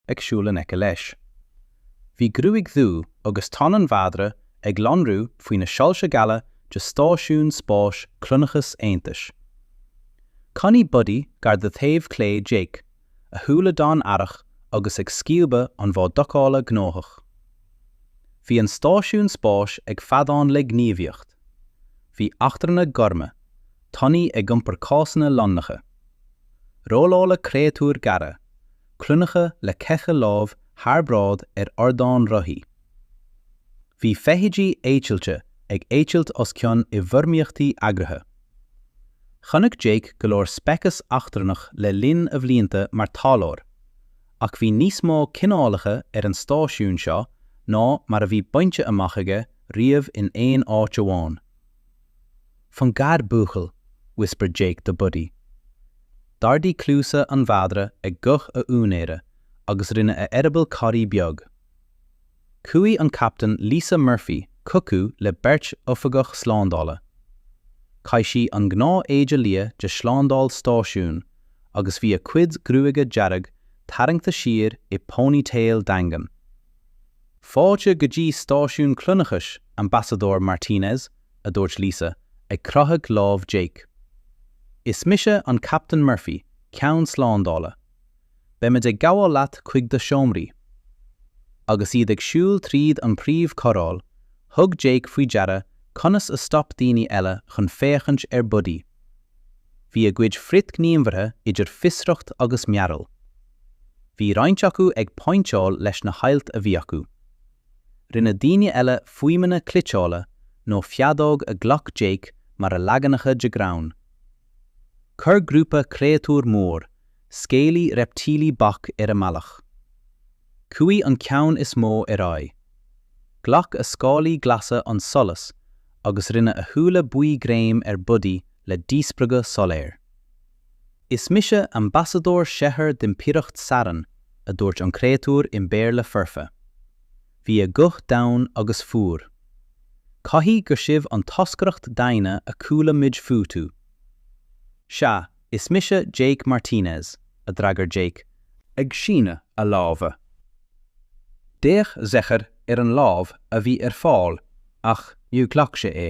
ag siúl in aice leis. Bhí gruaig dhubh agus donn an mhadra ag lonrú faoi na soilse geala de stáisiún spáis Cronachas Aontais. Coinnigh Buddy gar do thaobh clé Jake, a shúile donn aireach agus ag scuabadh an bhá docála gnóthach. Bhí an stáisiún spáis ag feadán le gníomhaíocht. Bhí eachtrannaigh ghorma, tanaí ag iompar cásanna lonracha. Rolláil créatúir gearra, cruinneacha le ceithre lámh thar bráid ar ardáin rothaí. Bhí feithidí eitilte ag eitilt os cionn i bhfoirmíochtaí eagraithe. Chonaic Jake go leor speiceas eachtrannach le linn a bhlianta mar taidhleoir, ach bhí níos mó cineálacha ar an stáisiún seo ná mar a bhí bainte amach aige riamh in aon áit amháin. Fan gar buachaill, whispered Jake do Buddy. D'ardaigh cluasa an mhadra ag guth a úinéara agus rinne a eireaball corraí beag. Chuaigh an captaen Lisa Murphy chucu le beirt oifigeach slándála. Chaith sí an gnáth éide liath de shlándáil stáisiúin agus bhí a cuid gruaige dearg tarraingthe siar i ponytail daingean. Fáilte go dtí Stáisiún Cronachais, Ambasadóir Martinez, a dúirt Lisa, ag croitheadh lámh Jake. Is mise an Captain Murphy, ceann slándála. Beimid ag gabháil leat chuig do sheomraí. Agus iad ag siúl tríd an príomh choráil, thug Jake faoi deara conas a stop daoine eile chun féachaint ar Buddy. Bhí a gcuid frithgníomhartha idir fiosracht agus mearbhall. Bhí roinnt acu ag pointeáil leis na hailt a bhí acu. Rinne daoine eile fuaimeanna cliteála nó feadóg a ghlac Jake mar a leaganacha de ghreann. Chuir grúpa créatúr mór, scálaí reiptílí bac ar a mbealach. Chuaigh an ceann is mó ar aghaidh. Ghlac a scálaí glasa an solas agus rinne a shúile buí greim ar Buddy le díspreagadh soiléir. Is mise ambasadóir Zechair d'Impireacht Saran, a dúirt an créatúr i mBéarla foirfe. Bhí a guth domhain agus fuar. Caithfidh gur sibh an toscaireacht daonna a chuala muid fúthu. Sea, is mise Jake Martinez, a d'fhreagair Jake, ag síneadh a láimhe D'fhéach Zechair ar an lámh a bhí ar fáil ach níor ghlac sé é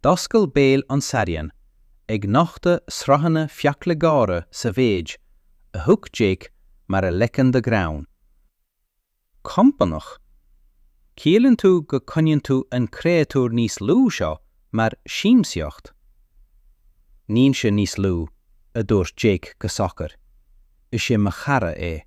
D'oscail béal an Sarian ag nochtadh sraitheanna fiacla géara sa mhéid a thug Jake mar a leagan de ghreann. Compánach, ciallaíonn tú go coinníonn tú an créatúr níos lú seo mar siamsaíocht? Níl sé níos lú, a dúirt Jake go socair. Is é mo chara é.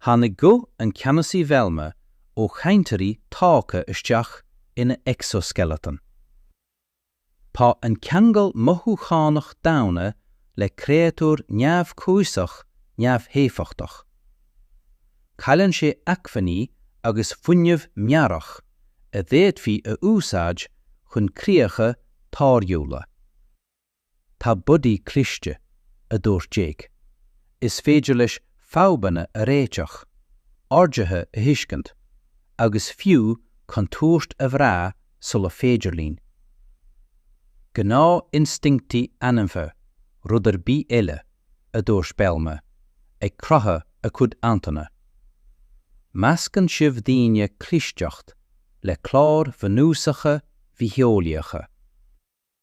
Tháinig guth an Cheannasaí Velma ó chainteoirí tógtha isteach ina exoskeleton. Tá an ceangal mothúchánach daonna le créatúr neamhchúiseach neamhéifeachtach. Cailleann sé acmhainní agus fuinneamh meabhrach a d'fhéadfaí a úsáid chun críocha táirgiúla. Tá Buddy cliste, a dúirt Jake. Is féidir leis fadhbanna a réiteach, orduithe a thuiscint, agus fiú contúirt a bhrath sula féidir linn. Gnáth-instinctí ainmhithe, rud ar bith eile, a dúirt Belma, ag croitheadh a cuid antennae. Meascann sibh daoine clisteacht le cláir bhunúsacha bhitheolaíocha.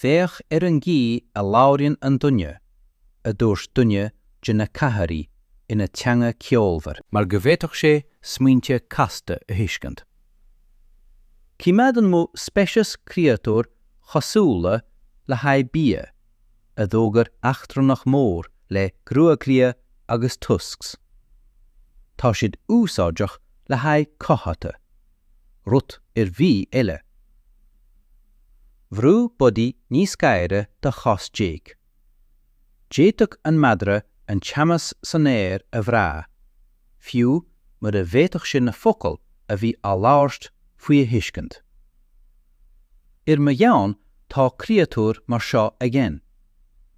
Féach ar an gcaoi a labhraíonn an duine, a dúirt duine de na Cathari ina teanga cheolmhar. mar go bhféadfadh sé smaointe casta a thuiscint. Coimeádann mo speiceas créatúir chosúla le haghaidh bia, a d'fhógair eachtrannach mór le gruaig liath agus tusks. Tá siad úsáideach le haghaidh cothaithe. rud ar bith eile. Bhrú Buddy níos gaire do chos Jake. D'fhéadfadh an madra an teannas san aer a bhrath, fiú mura bhféadfadh sé na focail a bhí á labhairt faoi a thuiscint. Ar mo dhomhan tá créatúir mar seo againn,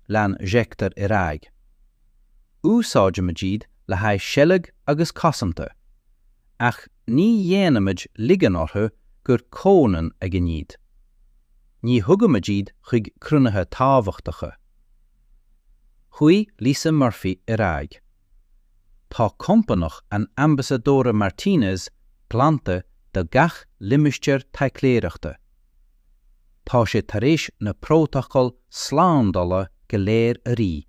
lean Hector ar aghaidh. Úsáidimid iad le haghaidh seilg agus cosanta. ach ní dhéanaimid ligean orthu gur comhionann againn iad. Ní thugaimid iad chuig cruinnithe tábhachtacha. Chuaigh Lisa Murphy ar aghaidh. Tá compánach an Ambasadóra Martínez glanta do gach limistéar taidhleoireachta. Tá sé tar éis na prótacail slándála go léir a rith.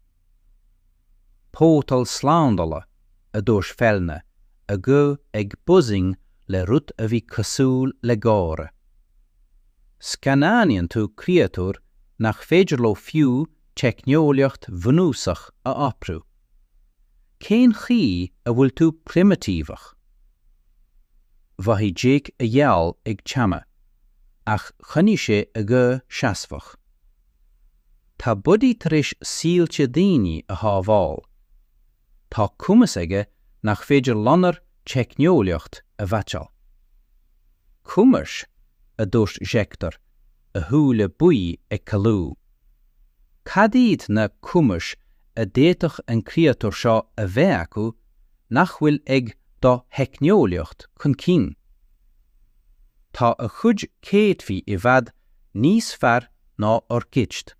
Pótal slándála, a dúirt Fellner, a ghuth ag buzzing le rud a bhí cosúil le gáire. Scannánaíonn tú créatúir nach féidir leo fiú teicneolaíocht bhunúsach a oibriú. Cén chaoi a bhfuil tú primitíveach? Mhothaigh Jake a ghiall ag teannadh, ach choinnigh sé a ghuth seasmhach. Tá Buddy tar éis saolta daoine a shábháil. Tá cumas aige nach féidir lenár teicneolaíocht a mheaitseáil. Cumais, a dúirt Hector, a shúile buí ag caolú. Cad iad na cumais a d'fhéadfadh an créatúr seo a bheith acu nach bhfuil ag do theicneolaíocht chun cinn? Tá a chuid céadfaí i bhfad Níos fearr ná ár gcuid,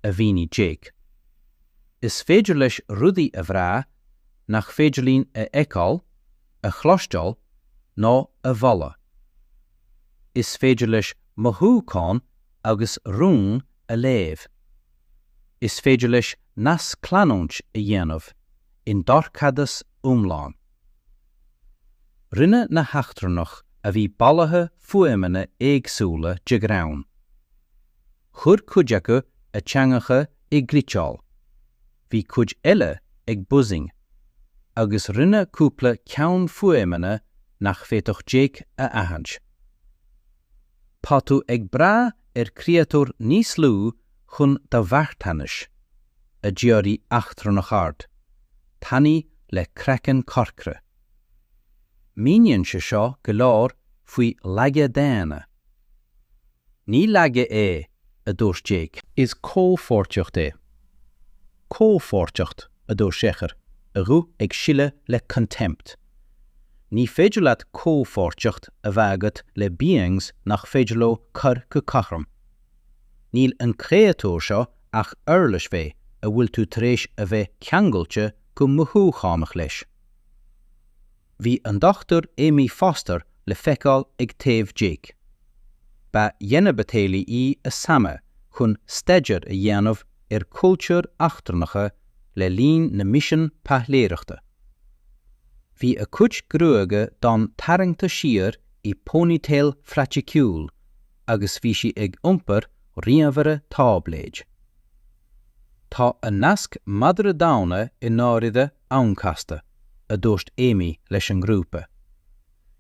a mhínigh Jake. Is féidir leis rudaí a bhrath nach féidir linn a fheiceáil, a chloisteáil ná a bholadh. Is féidir leis mothúcháin agus rúin a léamh. Is féidir leis nascleanúint a dhéanamh i ndorchadas iomlán. Rinne na heachtrannach a bhí bailithe fuaimeanna éagsúla de ghreann. Chuir cuid acu a dteangacha i gcriteál, bhí cuid eile ag buzzing, agus rinne cúpla ceann fuaimeanna nach bhféadfadh Jake a aithint. Tá tú ag brath ar chréatúr níos lú chun do mharthanais, a d'fhiafraigh eachtrannach ard, tanaí le craiceann corcra. Míníonn sé seo go leor faoi laige daonna. Ní laige é, a dúirt Jake. Is comhpháirtíocht é. Comhpháirtíocht, a dúirt Shekhar, a ghuth ag sileadh le contempt. Ní féidir leat comhpháirtíocht a bheith agat le beings nach féidir leo cur go cothrom. Níl an créatúr seo ach uirlis fé a bhfuil tú tar éis a bheith ceangailte go mothúchánach leis. Bhí an Dr Amy Foster le feiceáil ag taobh Jake. Ba xenobitheolaí í a sannadh chun staidéar a dhéanamh ar chultúir eachtrannacha le linn na misean taidhleoireachta. Bhí a cuid gruaige donn tarraingte siar i ponytail phraiticiúil agus bhí sí ag iompar ríomhaire táibléid. Tá an nasc madra daonna i ndáirire an-chasta, a dúirt Amy leis an ngrúpa.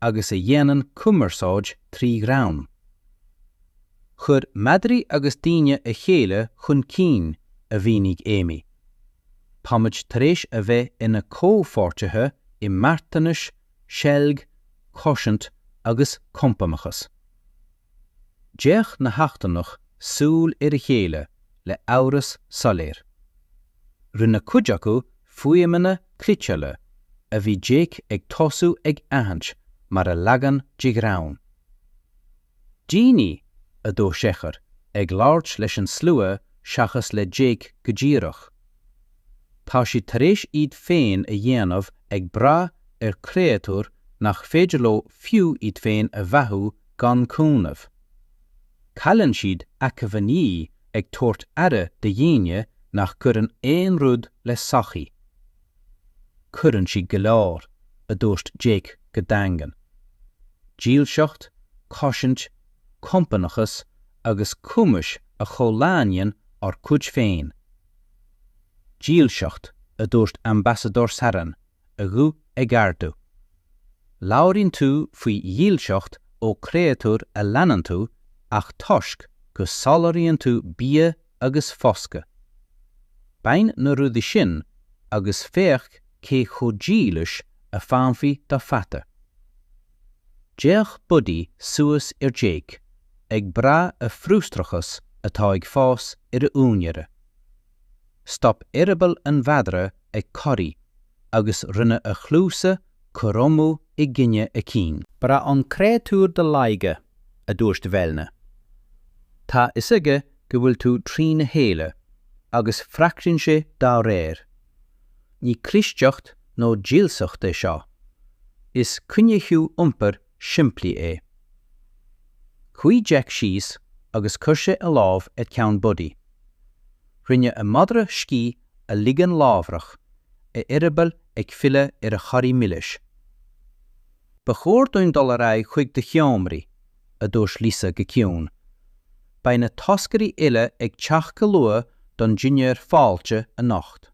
agus a dhéanann cumarsáid trí ghreann. Chuir madraí agus daoine a chéile chun cinn, a mhínigh Amy. Táimid tar éis a bheith ina comhpháirtithe i marthanais, seilg, cosaint agus compánachas. D'fhéach na heachtrannach súil ar a chéile le amhras soiléir. Rinne cuid acu fuaimeanna cliceála a bhí Jake ag tosú ag aithint mar a leagan de ghreann. Daoine, a dúirt Sechar, ag labhairt leis an slua seachas le Jake go díreach. Tá siad tar éis iad féin a dhéanamh ag brath ar chréatúr nach féidir leo fiú iad féin a bheathú gan cúnamh. Cailleann siad acmhainní ag tabhairt aire do dhaoine nach gcuireann aon rud le sochaí. Cuireann siad go leor, a dúirt Jake go daingean. Dílseacht, cosaint, compánachas agus cumais a chomhlánaíonn ár gcuid féin. Dílseacht, a dúirt Ambasadóir Saran. a ghuth ag ardú. Labhraíonn tú faoi dhílseacht ó chréatúr a leanann tú ach toisc go soláthraíonn tú bia agus foscadh. Bain na rudaí sin agus féach cé chomh dílis a fanfaidh do pheata. D'fhéach Buddy suas ar Jake, ag brath a frustrachas atá ag fás ar a úinéara. Stop eireaball an mhadra ag corraí agus rinne a chluasa cothromú i gcoinne a cinn. Braitheann an créatúr do laige, a dúirt Velna. Tá a fhios aige go bhfuil tú trína chéile agus freagraíonn sé dá réir. Ní clisteacht nó dílseacht é seo, is coinníchiú iompair simplí é. Chuaidh Jake síos agus chuir sé a lámh ar cheann Buddy. Rinne an madra scíth a ligean láithreach, a eireaball ag filleadh ar a chorraí milis. Ba chóir dúinn dul ar aghaidh chuig do sheomraí, a dúirt Lisa go ciúin. Beidh na toscairí uile ag teacht go luath don dinnéar fáilte anocht.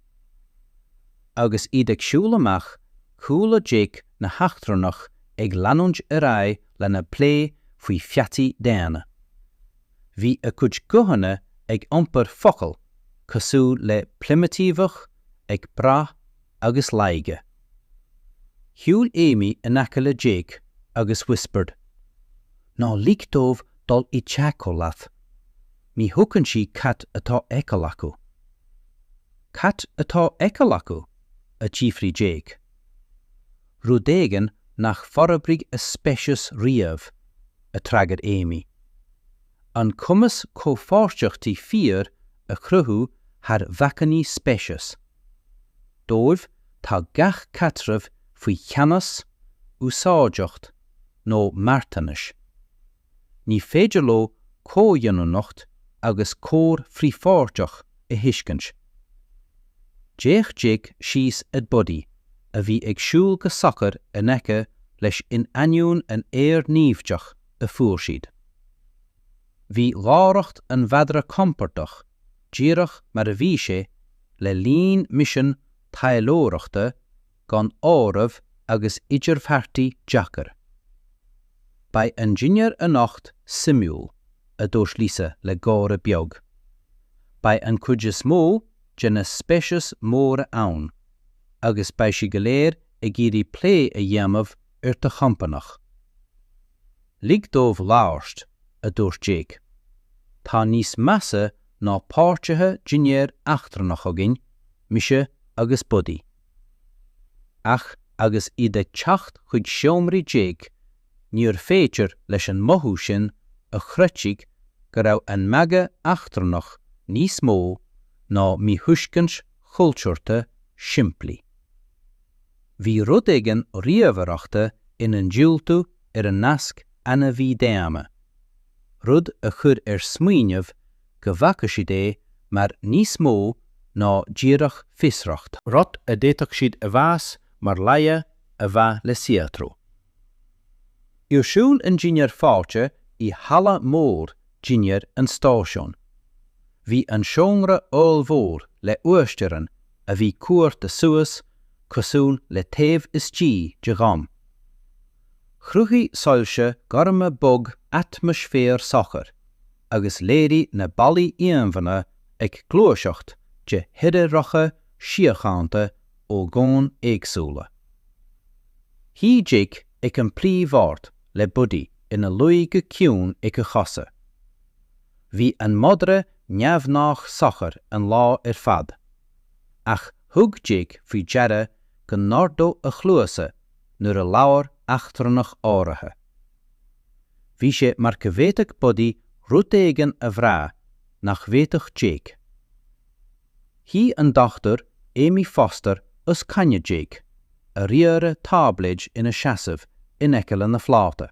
Agus iad ag siúl amach, Chuala Jake na heachtrannach ag leanúint ar aghaidh lena bplé faoi pheataí daonna. Bhí a gcuid guthanna ag iompar focal cosúil le primitíveach, ag brath agus laige. Shiúil Amy in aice le Jake agus whispered, Ná lig dóibh dul i dteagmháil leat. Ní thuigeann siad cad atá á fheiceáil acu. Cad atá á fheiceáil acu? a d'fhiafraigh Jake. Rud éigin nach forbraigh a speiceas riamh, a d'fhreagair Amy. An cumas comhpháirteachtaí fíor a chruthú thar bhacainní speiceas. Dóibh tá gach caidreamh faoi cheannas, úsáideacht nó marthanais. Ní féidir leo comhionannacht agus cóir frithpháirteach a thuiscint. D'fhéach Jake síos ag Buddy a bhí ag siúl go socair in aice leis in ainneoin an aeir naimhdeach a fuair siad. Bhí láithreacht an mhadra compordach díreach mar a bhí sé le linn misean taidhleoireachta gan áireamh agus idirbheartaí deacair. Beidh an dinnéar anocht suimiúil, a dúirt Lisa le gáire beag. Beidh an chuid is mó de na speiceas móra ann agus beidh siad go léir ag iarraidh plé a dhéanamh ar do chompánach. Lig dóibh labhairt, a dúirt Jake. Tá níos measa ná páirtithe dinnéir eachtrannach againn, mise agus Buddy. Ach agus iad ag teacht chuig seomraí Jake níor féidir leis an mothú sin a chroitheadh go raibh an magadh eachtrannach níos mó ná míthuiscint chultúrta shimplí. Bhí rud éigin ríomhaireachta ina ndiúltú ar an nasc ainmhí-daonna, rud a chuir ar smaoineamh go bhfaca siad é mar níos mó ná díreach fiosracht, rud a d'fhéadfadh siad a mheas mar laige a bheith le saothrú. Ar siúl an dinnéar fáilte i halla mór dinnéir an stáisiúin. Bhí an seomra ollmhór le uasteorainn a bhí cuartha suas cosúil le taobh istigh de dhom. Chruthaigh soilse gorma bog atmaisféar socair. agus léirigh na ballaí íomhánna ag gluaiseacht de thírdhreacha síochánta ó dhomhain éagsúla. Shuigh Jake ag an bpríomhbhord le Buddy ina luí go ciúin ag a chosa. Bhí an madra neamhghnách socair an lá ar fad, ach thug Jake faoi deara go n-ardódh a chluasa nuair a labhair eachtrannach áirithe. Bhí sé mar go bhféadfadh Buddy rud éigin a bhrath nach bhféadfadh Jake. Shuigh an Dr Amy Foster os coinne Jake, a ríomhaire táibléid ina seasamh in aice lena pláta.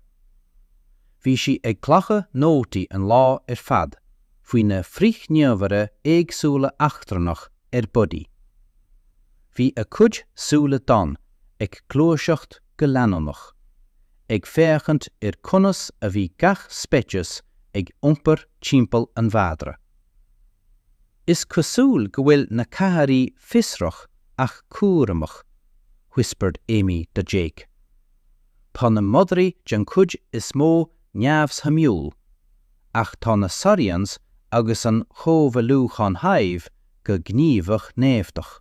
Bhí sí ag glacadh nótaí an lá ar fad faoi na frithghníomhartha éagsúla eachtrannach ar Buddy. Bhí a cuid súile donn ag gluaiseacht go leanúnach, ag féachaint ar conas a bhí gach speiceas ag iompar timpeall an mhadra. Is cosúil go bhfuil na Kahari fiosrach ach cúramach, whispered Amy to Jake. Tá na madraí den chuid is mó neamhshuimiúil, ach tá na saurians agus an chomhairliúchán Hive go gníomhach naimhdeach.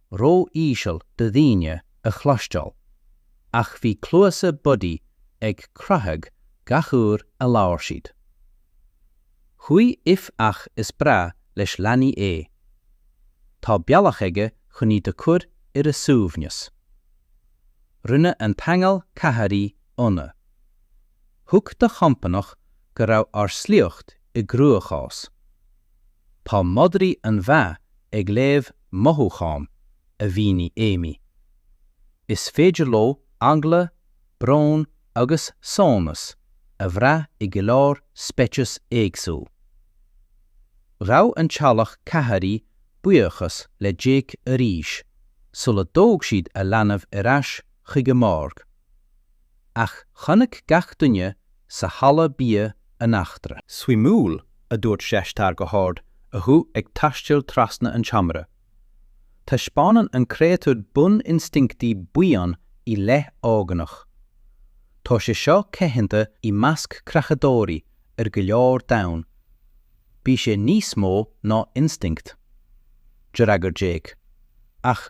ró-íseal do dhaoine a chloisteáil, ach bhí cluasa Buddy ag croitheadh gach uair a labhair siad. Chuaigh If Ach is breá leis leanaí é. Tá bealach aige chun iad a chur ar a suaimhneas. Rinne an teaghlach Kahari ionadh. Thuig do chompanach go raibh ár sliocht i gcruachás. Tá madraí an-mhaith ag léamh mothúchán, a mhínigh Amy. Is féidir leo eagla, brón agus sonas a bhrath i go leor speiceas éagsúil. Ghabh an teaghlach Kahari buíochas le Jake arís sular thóg siad a leanbh ar ais chuig a mbord. ach chonaic gach duine sa halla bia an eachtra. Suimiúil, a dúirt Zsescar go hard a ghuth ag taisteal trasna an tseomra. Taispeánann an créatúr bun-instinctí buíon i leith óganach. Tá sé seo coitianta i measc creachadóirí ar go leor domhan. Bhí sé níos mó ná instinct. D'fhreagair Jake, Ach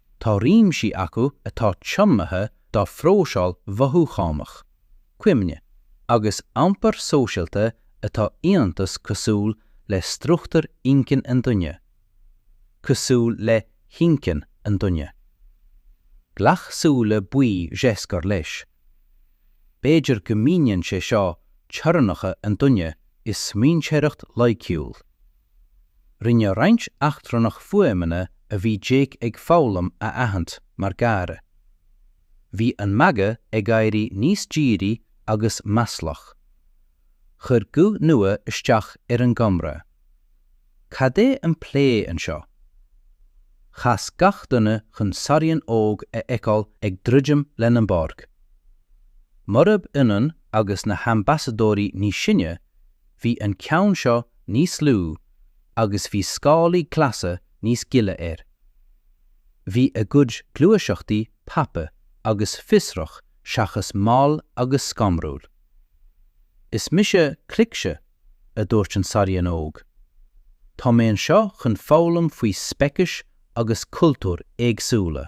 Tá réimsí acu atá tiomnaithe dá phróiseáil mhothúchánach, cuimhne, agus iompar sóisialta atá iontach cosúil le struchtúr inchinn an duine, cosúil le hinchinn an duine. Glac súile buí Zsescar leis. B'fhéidir go míníonn sé seo teorainneacha an duine i smaointeoireacht loighciúil. Rinne roinnt eachtrannach fuaimeanna a bhí Jake ag foghlaim a aithint mar gáire. Bhí an magadh ag éirí níos dírí agus maslach. Chuir guth nua isteach ar an gcomhrá. Cad é an plé anseo? Chas gach duine chun Sarian óg a fheiceáil ag druidim lena mbord. Murab ionann agus na hambasadóirí níos sine, bhí an ceann seo níos lú agus bhí scálaí glasa níos gile air. Bhí a gcuid gluaiseachtaí tapa agus fiosrach seachas mall agus scanrúil. Is mise Cricse, a dúirt an Sarian óg. Tá mé anseo chun foghlaim faoi speicis agus cultúir éagsúla.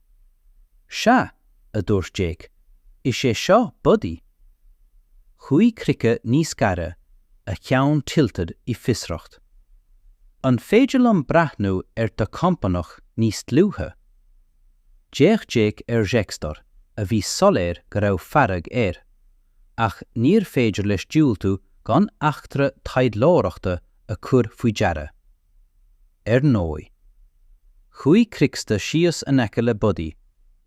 'Sea, a dúirt Jake, 'is é seo Buddy. Chuaigh Cricse níos gaire, a cheann tilted i bhfiosracht. 'An féidir liom breathnú ar do chompánach níos dlúithe? D'fhéach Jake ar Jextor, a bhí soiléir go raibh fearg air, ach níorbh féidir leis diúltú gan eachtra taidhleoireachta a chur faoi deara. Ar ndóigh. Chuaigh Cricse síos in aice le Buddy,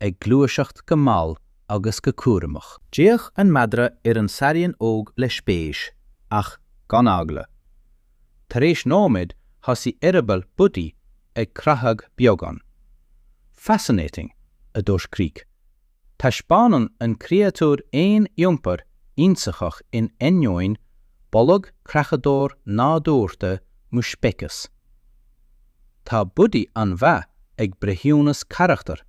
ag gluaiseacht go mall agus go cúramach. D'fhéach an madra ar an sarian óg le spéis, ach gan eagla. Tar éis nóiméid thosaigh eireaball Buddy ag creathadh beagán. Fascinating, a dúirt Crích. Taispeánann an créatúr aon iompar ionsaitheach in ainneoin boladh creachadóir nádúrtha mo speiceas. Tá Buddy an-mhaith ag breithiúnas carachtar,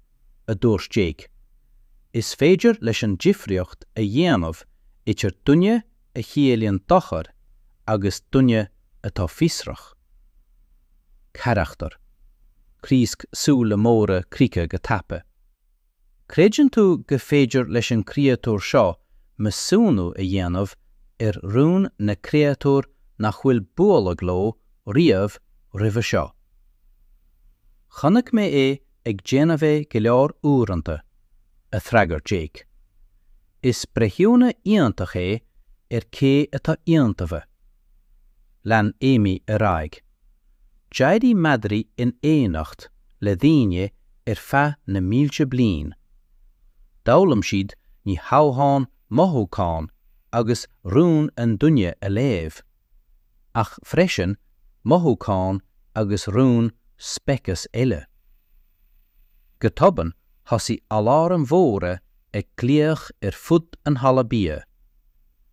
a dúirt Jake. Is féidir leis an difríocht a dhéanamh idir duine a chiallaíonn dochar agus duine atá fiosrach. Carachtar. Criosc súile móra críche go tapa. Creideann tú gur féidir leis an gcréatúr seo measúnú a dhéanamh ar rún na gcréatúr nach bhfuil bualadh leo riamh roimhe seo? Chonaic mé é ag déanamh é go leor uaireanta, a d'fhreagair Jake. Is breithiúna iontach é ar cé atá iontaofa. Lean Amy ar aghaidh, D'éirigh madraí in éineacht le daoine ar feadh na mílte bliain. D'fhoghlaim siad ní hamháin mothúcháin agus rúin an duine a léamh, ach freisin mothúcháin agus rúin speiceas eile. Go tobann thosaigh aláraim mhóra ag glaoch ar fud an halla bia.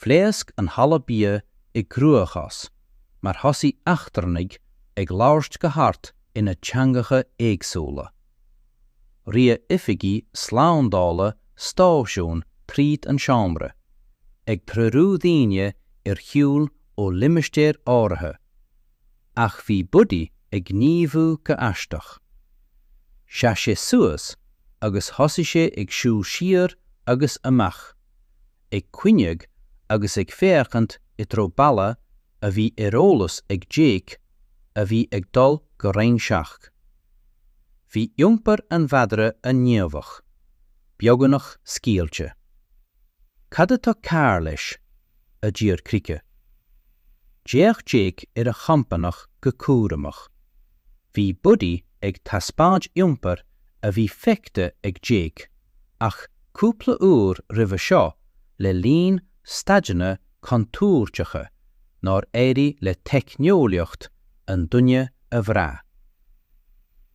Phléasc an halla bia i gcruachás mar thosaigh eachtrannaigh ag labhairt go hard ina dteangacha éagsúla. Rith oifigigh slándála stáisiún tríd an seomra, ag treorú daoine ar shiúl ó limistéir áirithe, ach bhí Buddy ag gníomhú go aisteach. Sheas sé suas agus thosaigh sé ag siúl siar agus amach, ag caoineadh agus ag féachaint i dtreo balla a bhí ar eolas ag Jake a bhí ag dul go Roinn 7. Bhí iompar an mhadra an-ghníomhach, beagnach scaoilte. Cad atá cearr leis? a d'iarr Krike. D'fhéach Jake ar a chompánach go cúramach. Bhí Buddy ag taispeáint iompar a bhí feicthe ag Jake. ach cúpla uair roimhe seo le linn staideanna contúirteacha nár éirigh le teicneolaíocht an duine a bhrath.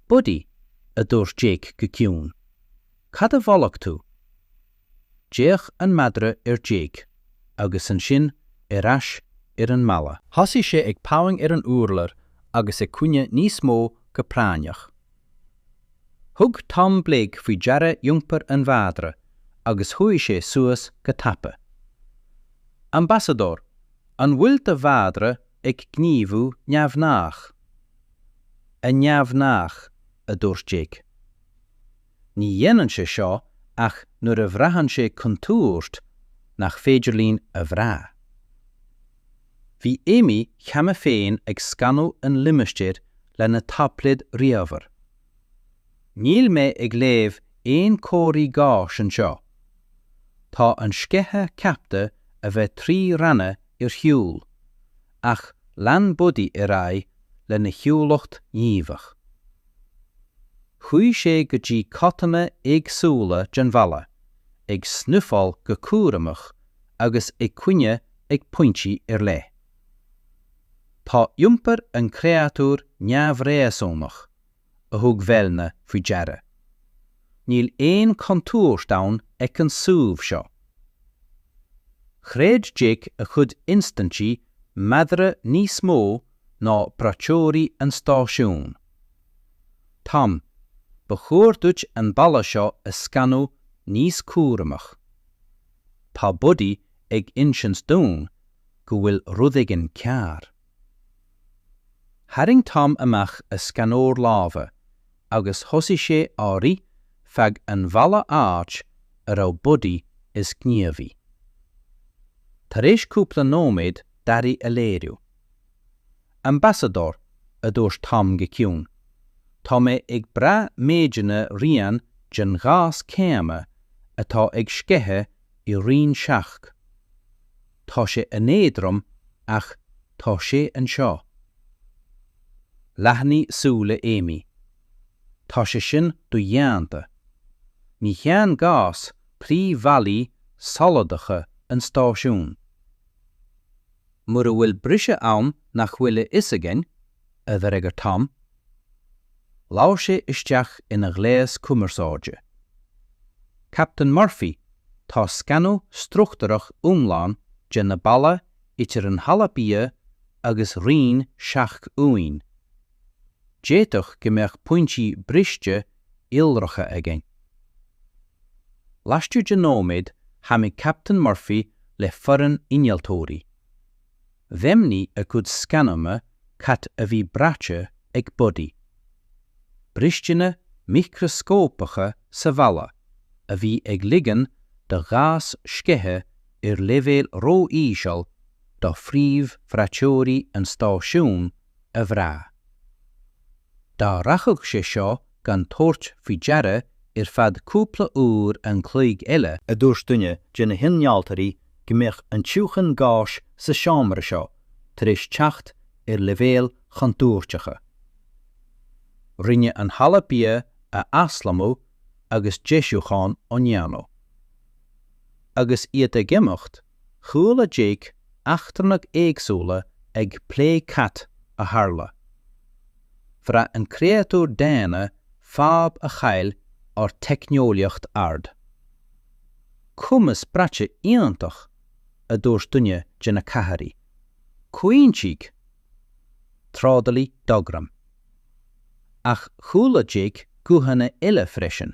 'Buddy, a dúirt Jake go ciúin. 'Cad a bholaíonn tú? D'fhéach an madra ar Jake agus ansin ar ais ar an mballa. Thosaigh sé ag pawing ar an urlár agus ag caoineadh níos mó go práinneach. Thug Tom Blake faoi deara iompar an mhadra agus chuaigh sé suas go tapa. Ambasadóir, an bhfuil do mhadra ag gníomhú neamhghnách? An-neamhghnách, a dúirt Jake. Ní dhéanann sé seo ach nuair a bhraitheann sé contúirt nach féidir linn a bhrath. Bhí Amy cheana féin ag scanadh an limistéir lena taibléad ríomhaire. Níl mé ag léamh aon chomharthaí gáis anseo. Tá an sceitheadh ceaptha a bheith trí ranna ar shiúl, ach lean Buddy ar aghaidh lena shiúlacht ghníomhach. Chuaigh sé go dtí codanna éagsúla den bhalla, ag snuifeáil go cúramach agus ag caoineadh ag pointí ar leith. Tá iompar an chréatúir neamhréasúnach, a thug Vellner faoi deara. Níl aon chontúirt ann ag an suíomh seo. Chreid Jake a chuid instinní madra níos mó ná braiteoirí an stáisiúin. Tom, ba chóir duit an balla seo a scanadh níos cúramach. Tá Buddy ag insint dúinn go bhfuil rud éigin cearr. Tharraing Tom amach a scanóir láimhe agus thosaigh sé á rith feadh an bhalla áit a raibh Buddy is gníomhaí. Tar éis cúpla nóiméad d'athraigh a léiriú. Ambasadóir, a dúirt Tom go ciúin. Tá mé ag brath méideanna rian den ghás céanna atá ag sceitheadh i roinn seacht. Tá sé an-éadrom ach tá sé anseo. Leathnaigh súile Amy. Tá sé sin dodhéanta. Ní théann gás trí bhallaí soladacha an stáisiúin. Mura bhfuil briseadh ann nach bhfuil a fhios againn, a d'fhreagair Tom. Labhair sé isteach ina ghléas cumarsáide. Captain Murphy, tá scanadh struchtúrach iomlán de na ballaí idir an halla bia agus roinn 7 uainn. D'fhéadfadh go mbeadh pointí briste iolracha againn. Laistigh de nóiméad tháinig Captain Murphy le foireann innealtóirí. Dheimhnigh a gcuid scananna cad a bhí braite ag Buddy. Bristeanna micreascópacha sa bhalla a bhí ag ligean do ghás sceitheadh ar leibhéal ró-íseal do phríomh-bhraiteoirí an stáisiúin, a bhrath. Dá rachadh sé seo gan tabhairt faoi deara ar feadh cúpla uair an chloig eile, a dúirt duine de na hinnealtóirí go mbeadh an tiúchan gáis sa seomra seo tar éis teacht ar leibhéil chontúirteacha. Rinneadh an halla bia a aslonnú agus deisiúcháin á ndéanamh. Agus iad ag imeacht, Chuala Jake eachtrannaigh éagsúla ag plé cad a tharla. Bhraith an créatúr daonna fadhb a chaill ár teicneolaíocht ard. Cumas braite iontach, a dúirt duine de na cathairí. Comhaontaigh trádálaí Dogram. Ach chuala Jake guthanna eile freisin.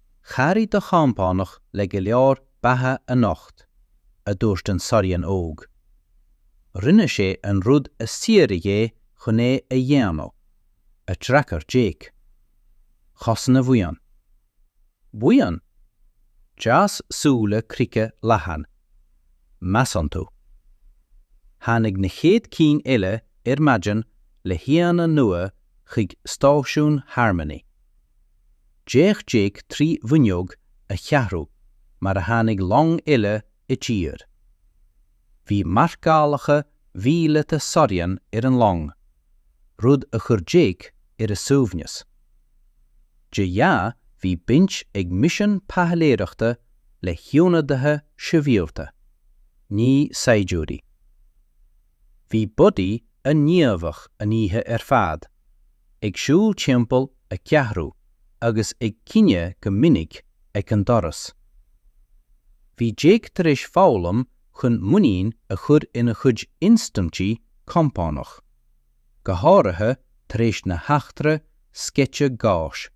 Chabhraigh do chompánach le go leor beatha anocht, a dúirt an Sorian óg. Rinne sé an rud a saothraíodh é chun é a dhéanamh, a d'fhreagair Jake. Chosain a bhuíon. Buíon? D'fhás súile Crica leathan. Measann tú. Tháinig na chéad cinn eile ar maidin le haíonna nua chuig Stáisiún Harmony. D'fhéach Jake trí bhfuinneog a cheathrú mar a tháinig long eile i dtír. Bhí marcálacha míleata Soryan ar an long, rud a chuir Jake ar a shuaimhneas. De ghnáth bhí baint ag misean taidhleoireachta le hionadaithe sibhialta, ní saighdiúirí. Bhí Buddy an-ghníomhach an oíche ar fad, ag siúl timpeall a cheathrú agus ag cuinneáil go minic ag an doras. Bhí Jake tar éis foghlaim chun muinín a chur ina chuid instinní compánach, go háirithe tar éis na heachtra sceite gáis.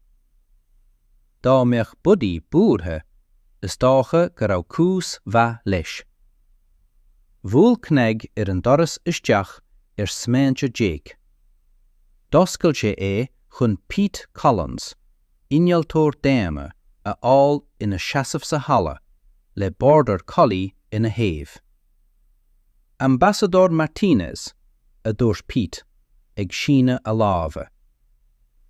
Dá mbeadh Buddy buartha, is dócha go raibh cúis mhaith leis. Bhuail cnag ar an doras isteach ar smaointe Jake. D'oscail sé é chun Pete Collins, innealtóir daonna, a fháil ina sheasamh sa halla le Border Collie ina thaobh. Ambasadóir Martinez, a dúirt Pete, ag síneadh a láimhe.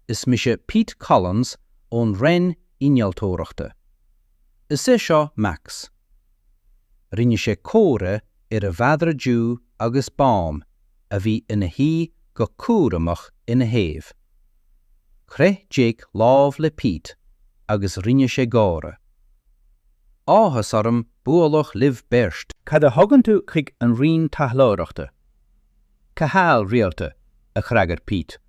Is mise Pete Collins ón Roinn Innealtóireachta. Is é seo Max. Rinne sé comhartha ar a mhadra dubh agus bán a bhí ina shuí go cúramach ina thaobh. Chroith Jake lámh le Pete agus rinne sé gáire. Áthas orm bualadh libh beirt! Cad a thugann tú chuig an Roinn Taidhleoireachta? Cothabháil rialta, a d'fhreagair Pete.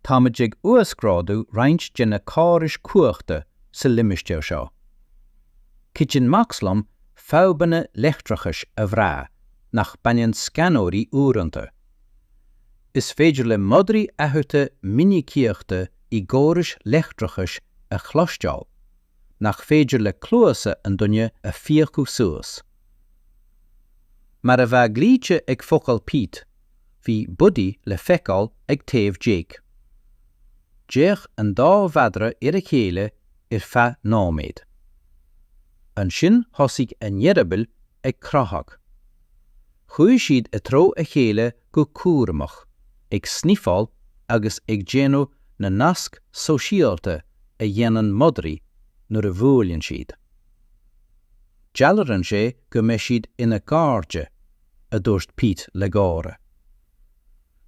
Táimid ag uasghrádú roinnt de na córais cumhachta sa limistéar seo. Cuidíonn Max liom fadhbanna leictreachais a bhrath nach mbraitheann scanóirí uaireanta. Is féidir le madraí athruithe minicíochta i gcórais leictreachais a chloisteáil. nach féidir le cluasa an duine a phiocadh suas. Mar a bheadh glaoite ag focail Pete, bhí Buddy le feiceáil ag taobh Jake. D'fhéach an dá mhadra ar a chéile ar feadh nóiméid. Ansin thosaigh a n-eireabaill ag croitheadh. Chuaigh siad i dtreo a chéile go cúramach, ag sniofáil agus ag déanamh na nasc sóisialta a dhéanann madraí nuair a bhuaileann siad. Dealraíonn sé go mbeidh siad ina gcairde, a dúirt Pete le gáire.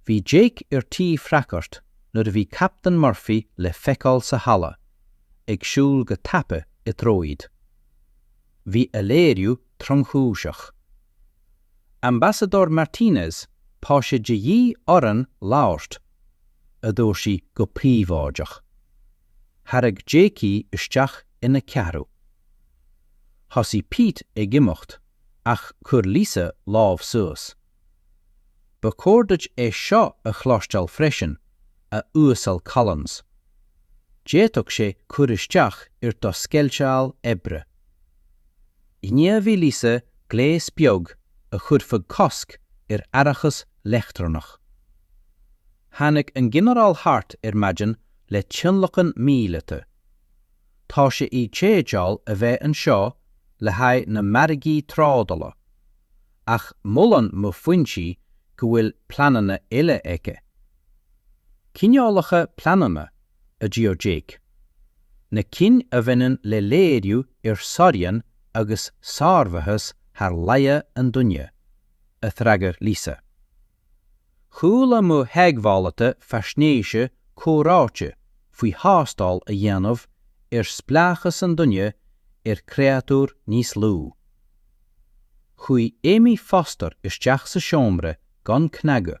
Bhí Jake ar tí freagairt nuair a bhí Captaen Murphy le feiceáil sa halla, ag siúl go tapa i dtreo iad. Bhí a léiriú tromchúiseach. Ambasadóir Martinez, tá sé de dhíth orainn labhairt, a dúirt sí go príobháideach. Thairg Jake í isteach ina ceathrú. Thosaigh Pete ag imeacht ach chuir Lisa lámh suas. Ba chóir duit é seo a chloisteáil freisin, a Uasail Collins. D'fhéadfadh sé cur isteach ar do sceideal oibre. Ghníomhaigh Lisa gléas beag a chuirfeadh cosc ar fhaireachas leictreonach. Tháinig an Ginearál thart ar maidin le tionlacan míleata. Tá sé i dteideal a bheith anseo le haghaidh na margaí trádala, ach molann mo foinsí go bhfuil pleananna eile aici. Cineálacha pleananna? a d'iarr Jake. Na cinn a bhaineann le léiriú ar Sorian agus sármhaitheas thar laige an duine, a d'fhreagair Lisa. Chuala mo theagmhálaithe faisnéise comhráite faoi thástáil a dhéanamh ar spleáchas an duine ar chréatúr níos lú. Chuaigh Amy Foster isteach sa seomra gan cnagadh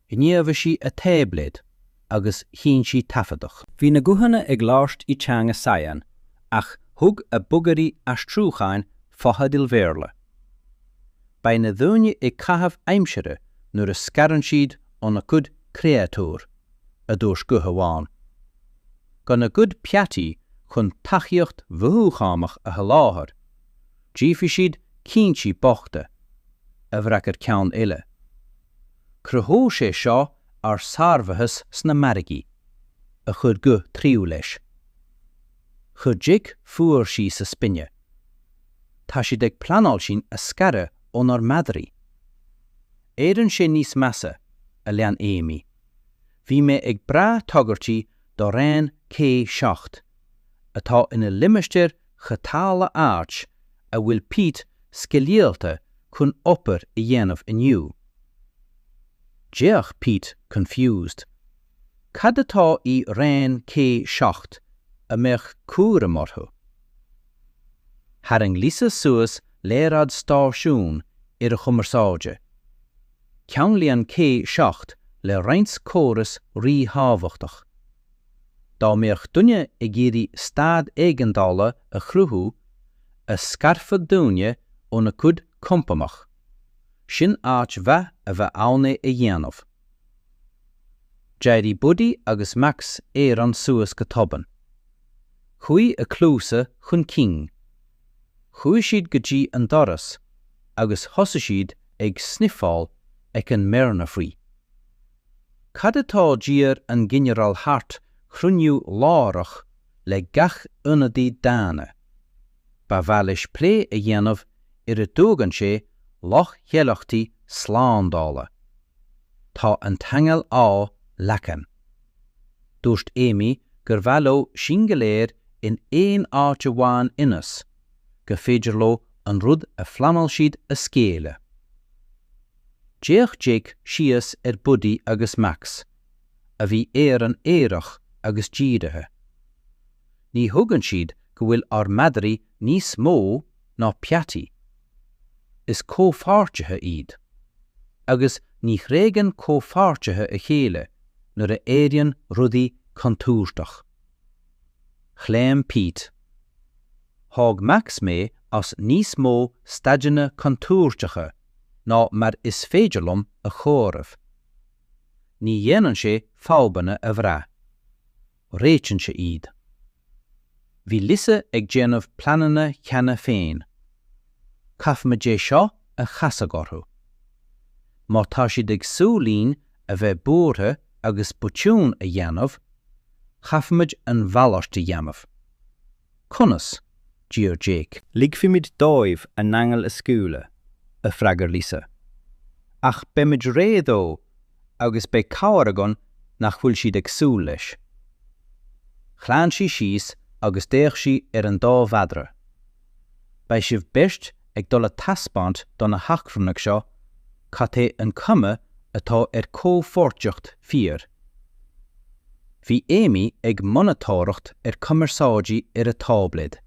Ghníomhaigh sí a táibléad agus sheinn sí taifeadadh. Bhí na guthanna ag labhairt i teanga Sayan ach thug a bogearraí aistriúcháin fotheidil Bhéarla. Beidh na daoine ag caitheamh aimsire nuair a scarann siad óna gcuid créatúr, a dúirt guth amháin. Gan a gcuid peataí chun tacaíocht mhothúchánach a sholáthar, déanfaidh siad cinntí bochta, a d'fhreagair ceann eile. Cruthóidh sé seo ár sármhaitheas sna margaí, a chuir guth tríú leis. Chuir Jake fuar síos a spine. Tá siad ag pleanáil sinn a scaradh ónár madraí. Éiríonn sé níos measa, a lean Amy. Bhí mé ag brath tagairtí do Raon C7, atá ina limistéar chothabhála áit a bhfuil Pete sceidealta chun obair a dhéanamh inniu. D'fhéach Pete confused. Cad atá i Raon K seacht a mbeadh cúram orthu? Tharraing Lisa suas léaráid stáisiún ar a chumarsáide. Ceanglaíonn K seacht le roinnt córas ríthábhachtach. Dá mbeadh duine ag iarraidh staid éigeandála a chruthú, a scarfadh daoine óna gcuid compánach, sin áit mhaith a bheadh ann é a dhéanamh. D'éirigh Buddy agus Max araon suas go tobann. Chuaigh a gcluasa chun cinn. Chuaigh siad go dtí an doras agus thosaigh siad ag snifeáil ag an mbearna faoi. Cad atá D'iarr an Ginearál Hart cruinniú láithreach le gach ionadaí daonna. Ba mhaith leis plé a dhéanamh ar a dtuagann sé leochaileachtaí slándála. Tá an t-inneall á leagan. Dúirt Amy gur mhaith leo sinn go léir in aon áit amháin ionas go féidir leo an rud a phleanáil siad a scaoileadh. D'fhéach Jake síos ar Buddy agus Max, a bhí araon aireach agus dírithe. Ní thuigeann siad go bhfuil ár madraí níos mó ná peataí. Is comhpháirtithe iad. Agus ní thréigeann comhpháirtithe a chéile nuair a éiríonn rudaí contúirteach. Chlaon Pete. Thóg Max mé as níos mó staideanna contúirteacha ná mar is féidir liom a chomhaireamh. Ní dhéanann sé fadhbanna a bhrath. Réitíonn sé iad. Bhí Lisa ag déanamh pleananna cheana féin. Caithfimid é seo a chasadh orthu. Má tá siad ag súil linn a bheith buartha agus botún a dhéanamh, chaithfimid an mhalairt a dhéanamh. Conas? d'iarr Jake. Ligfimid dóibh a n-inneall a scaoileadh, a freagair Lisa. Ach beimid réidh dó agus beidh cabhair againn nach bhfuil siad ag súil leis. Chlaon sí síos agus d'fhéach sí ar an dá mhadra. Beidh sibh beirt ag dul a taispeáint do na heachtrannaigh seo cad é an chuma atá ar chomhpháirtíocht fíor. Bhí Amy ag monatóireacht ar cumarsáidí ar a táibléad.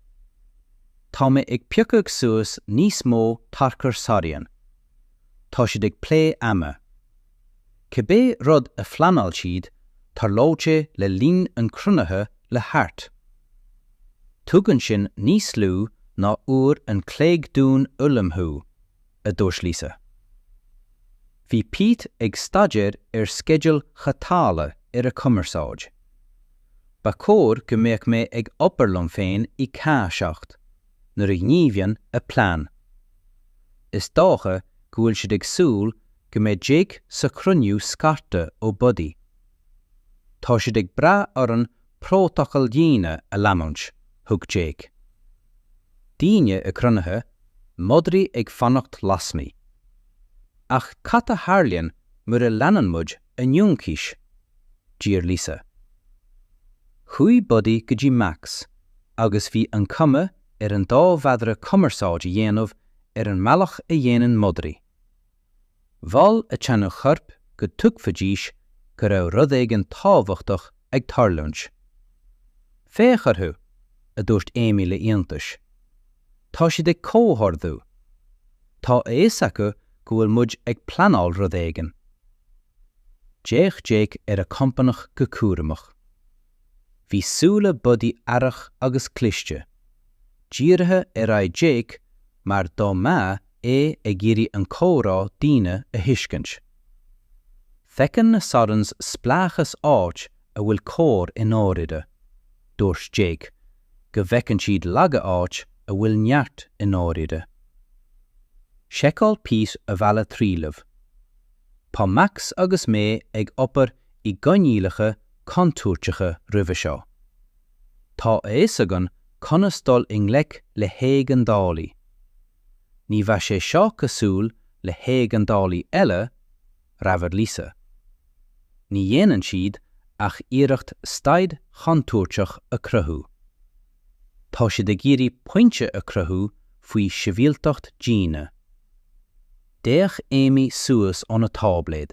Tá mé ag piocadh suas níos mó tarchur Sarian. Tá siad ag plé ama. Cibé rud a phleanáil siad, tarlóidh sé le linn an chruinnithe le Hart. Tugann sin níos lú ná uair an chloig dúinn ullmhú, a dúirt Lisa. Bhí Pete ag staidéar ar sceidil chothabhála ar a chumarsáid. Ba chóir go mbeadh mé ag obair liom féin i Ca 7 nuair a ghníomhaíonn a plean. Is dócha go bhfuil siad ag súil go mbeidh Jake sa chruinniú scartha ó Buddy. Tá siad ag brath orainn prótacal daoine a leanúint, thug Jake. Daoine i gcruinnithe, madraí ag fanacht lasmuigh. Ach cad a tharlaíonn mura leanann muid a n-ionchais? d'iarr Lisa. Chuaigh Buddy go dtí Max agus bhí an chuma ar an dá mhadra cumarsáid a dhéanamh ar an mbealach a dhéanann madraí. Mhol a dteanga choirp go dtuigfidís go raibh rud éigin tábhachtach ag tarlúint. 'Féach orthu! a dúirt Amy le hiontais. 'Tá siad ag comhordú! Tá a fhios acu go bhfuil muid ag pleanáil rud éigin! D'fhéach Jake ar a chompánach go cúramach. Bhí súile Buddy aireach agus cliste. Dírithe ar aghaidh Jake mar dá mbeadh é ag iarraidh an comhrá daoine a thuiscint. Feiceann na Sorens spleáchas áit a bhfuil comhar i ndáiríre. Dúirt Jake go bhfeiceann siad laige áit a bhfuil neart i ndáiríre. Sheiceáil Pete a bheilt trealamh. Tá Max agus mé ag obair i gcoinníollacha contúirteacha roimhe seo. Tá a fhios againn conas dul i ngleic le héigeandálaí. Ní bheadh sé seo cosúil le héigeandálaí eile, rabhaigh Lisa. Ní dhéanann siad ach iarracht staid chontúirteach a chruthú. Tá siad ag iarraidh pointe a chruthú faoi shibhialtacht daoine. D'fhéach Amy suas óna táibléad.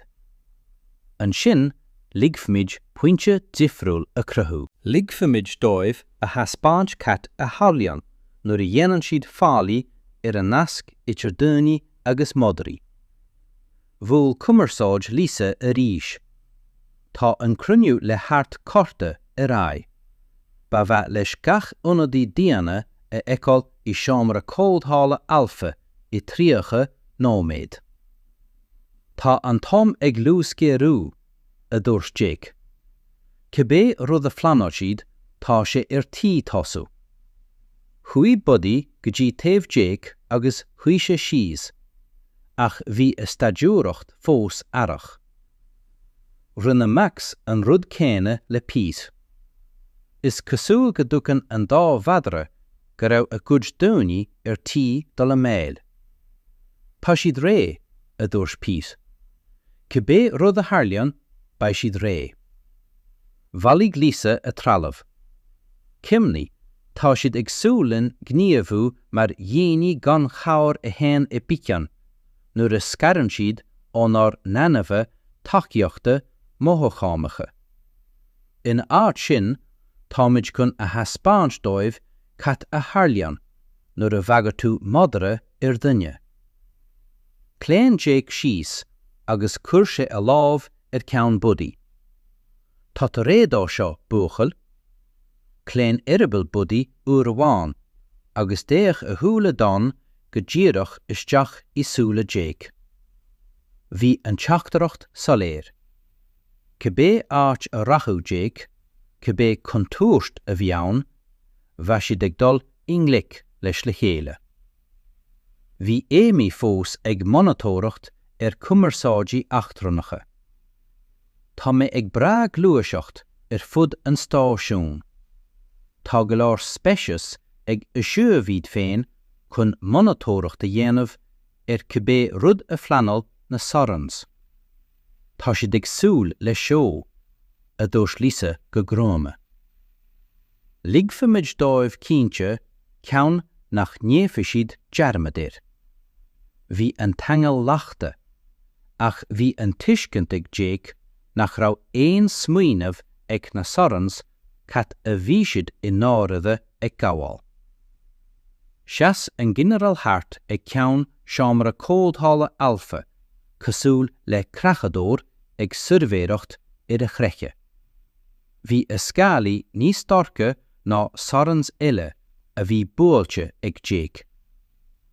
'Ansin ligfimid pointe difriúil a chruthú. Ligfimid dóibh a thaispeáint cad a tharlaíonn nuair a dhéanann siad faillí ar an nasc idir daoine agus madraí. Bhuail cumarsáid Lisa arís. 'Tá an cruinniú le hArt curtha ar aghaidh. Ba mhaith leis gach ionadaí daonna a fheiceáil i seomra comhdhála Alpha i 30 nóiméad. Tá an t-am ag luasghéarú, a dúirt Jake. Cibé rud a phleanáil siad, tá sé ar tí tosú. Chuaigh Buddy go dtí taobh Jake agus shuigh sé síos, ach bhí a staidiúireacht fós aireach. Rinne Max an rud céanna le Pete. Is cosúil go dtuigeann an dá mhadra go raibh a gcuid daoine ar tí dul i mbaol. Tá siad réidh, a dúirt Pete. Cibé rud a tharlaíonn, beidh siad réidh. Bhailigh Lisa a trealamh. Cuimhnigh, tá siad ag súil linn gníomhú mar dhaoine gan chabhair a théann i bpicín nuair a scarann siad ónár n-ainmhithe tacaíochta mothúchánacha. Ina áit sin, táimid chun a thaispeáint dóibh cad a tharlaíonn nuair a bhagraíonn tú madra ar dhuine. Chlaon Jake síos agus chuir sé a lámh ar cheann Buddy. Tá tú réidh dó seo, a bhuachaill? Chlaon eireaball Buddy uair amháin agus d'fhéach a shúile donn go díreach isteach i súile Jake. Bhí an teachtaireacht soiléir. Cibé áit a rachadh Jake, cibé contúirt a bhí ann, bheadh siad ag dul i ngleic leis le chéile. Bhí Amy fós ag monatóireacht ar chumarsáidí eachtrannacha. Tá mé ag brath gluaiseacht ar fud an stáisiúin. Tá go leor speiceas ag suíomh iad féin chun monatóireacht a dhéanamh ar cibé rud a phleanáil na Sorens. Tá siad ag súil le seó, a dúirt Lisa go gruama. Ligfimid dóibh cinnte ceann nach ndéanfaidh siad dearmad air. Bhí an t-eangach leagtha, ach bhí an tuiscint ag Jake nach raibh aon smaoineamh ag na Sorens cad a bhí siad i ndáirire ag gabháil. Sheas an Ginearál Hartog ag ceann seomra comhdhála Alpha cosúil le creachadóir ag suirbhéireacht ar a chreiche. Bhí a scálaí níos dorcha ná Sorens eile a bhí buailte ag Jake.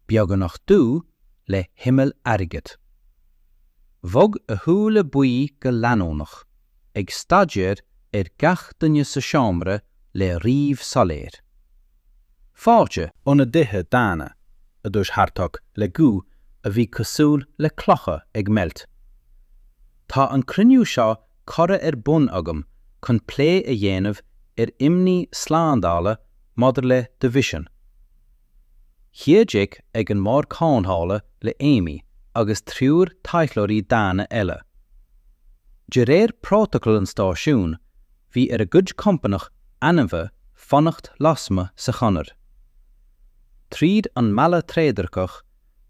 beagnach dubh le himeall airgid. Bhog a shúile buí go leanúnach, ag staidéar ar gach duine sa seomra le ríomh soiléir. 'Fáilte! A ionadaithe daonna, a dúirt Hartog le guth a bhí cosúil le clocha ag meilt. 'Tá an cruinniú seo curtha ar bun agam chun plé a dhéanamh ar imní slándála maidir le do mhisean. Shuigh Jake ag an mbord comhdhála le Amy agus triúr taidhleoirí daonna eile. De réir prótacal an stáisiúin, bhí ar a gcuid compánach ainmhithe fanacht lasmuigh sa chonair. Tríd an mballa trédhearcach,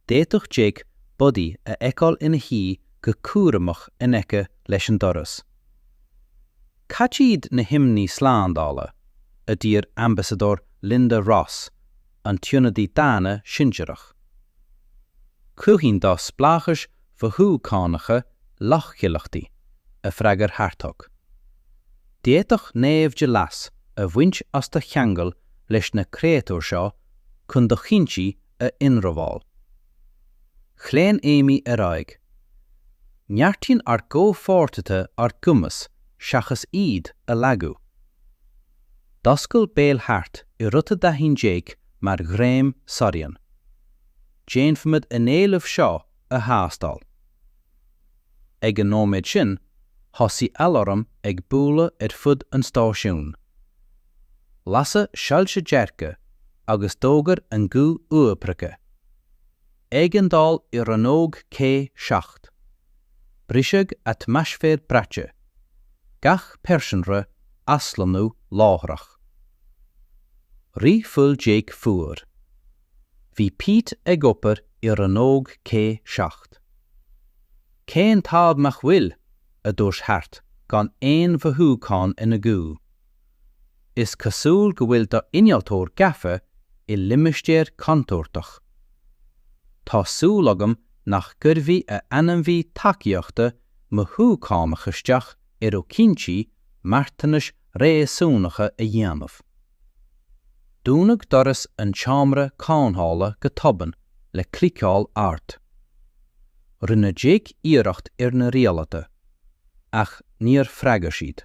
d'fhéadfadh Jake Buddy a fheiceáil ina shuí go cúramach in aice leis an doras. Cad iad na himní slándála? a d'fhiafraigh Ambasadóir Linda Ross, an t-ionadaí daonna sinsearach. Cruthaíonn do spleáchais mhothúchánacha leochaileachtaí, a d'fhreagair Hartog. D'fhéadfadh naimhde leas a bhaint as do cheangal leis na créatúir seo chun do chinntí a ionramháil. Chlaon Amy ar aghaidh. Neartaíonn ár gcomhpháirtithe ár gcumas seachas iad a lagú. D'oscail béal Hart i rud a d'aithin Jake mar ghrinn Sorian. Déanfaimid an t-éileamh seo a thástáil. Ag an nóiméad sin, thosaigh aláram ag bualadh ar fud an stáisiúin. Lasadh soilse dearga agus d'fhógair an guth uathoibrithe, Éigeandáil i rannóg C seacht! Briseadh atmaisféir braite, gach pearsanra aslonnú láithreach. Rith fuil Jake fuar. Bhí Pete ag obair i rannóg C seacht. Cén t-ádh nach bhfuil! a dúirt Hart gan aon mhothúchán ina ghuth. Is cosúil go bhfuil d'innealtóir gafa i limistéar contúirteach. Tá súil agam nach gcuirfidh a ainmhí tacaíochta mothúchánach isteach ar chinntí marthanais réasúnacha a dhéanamh. Dúnadh doras an tseomra comhdhála go tobann le cliceáil ard. Rinne Jake iarracht ar na rialtáin, ach níor fhreagair siad.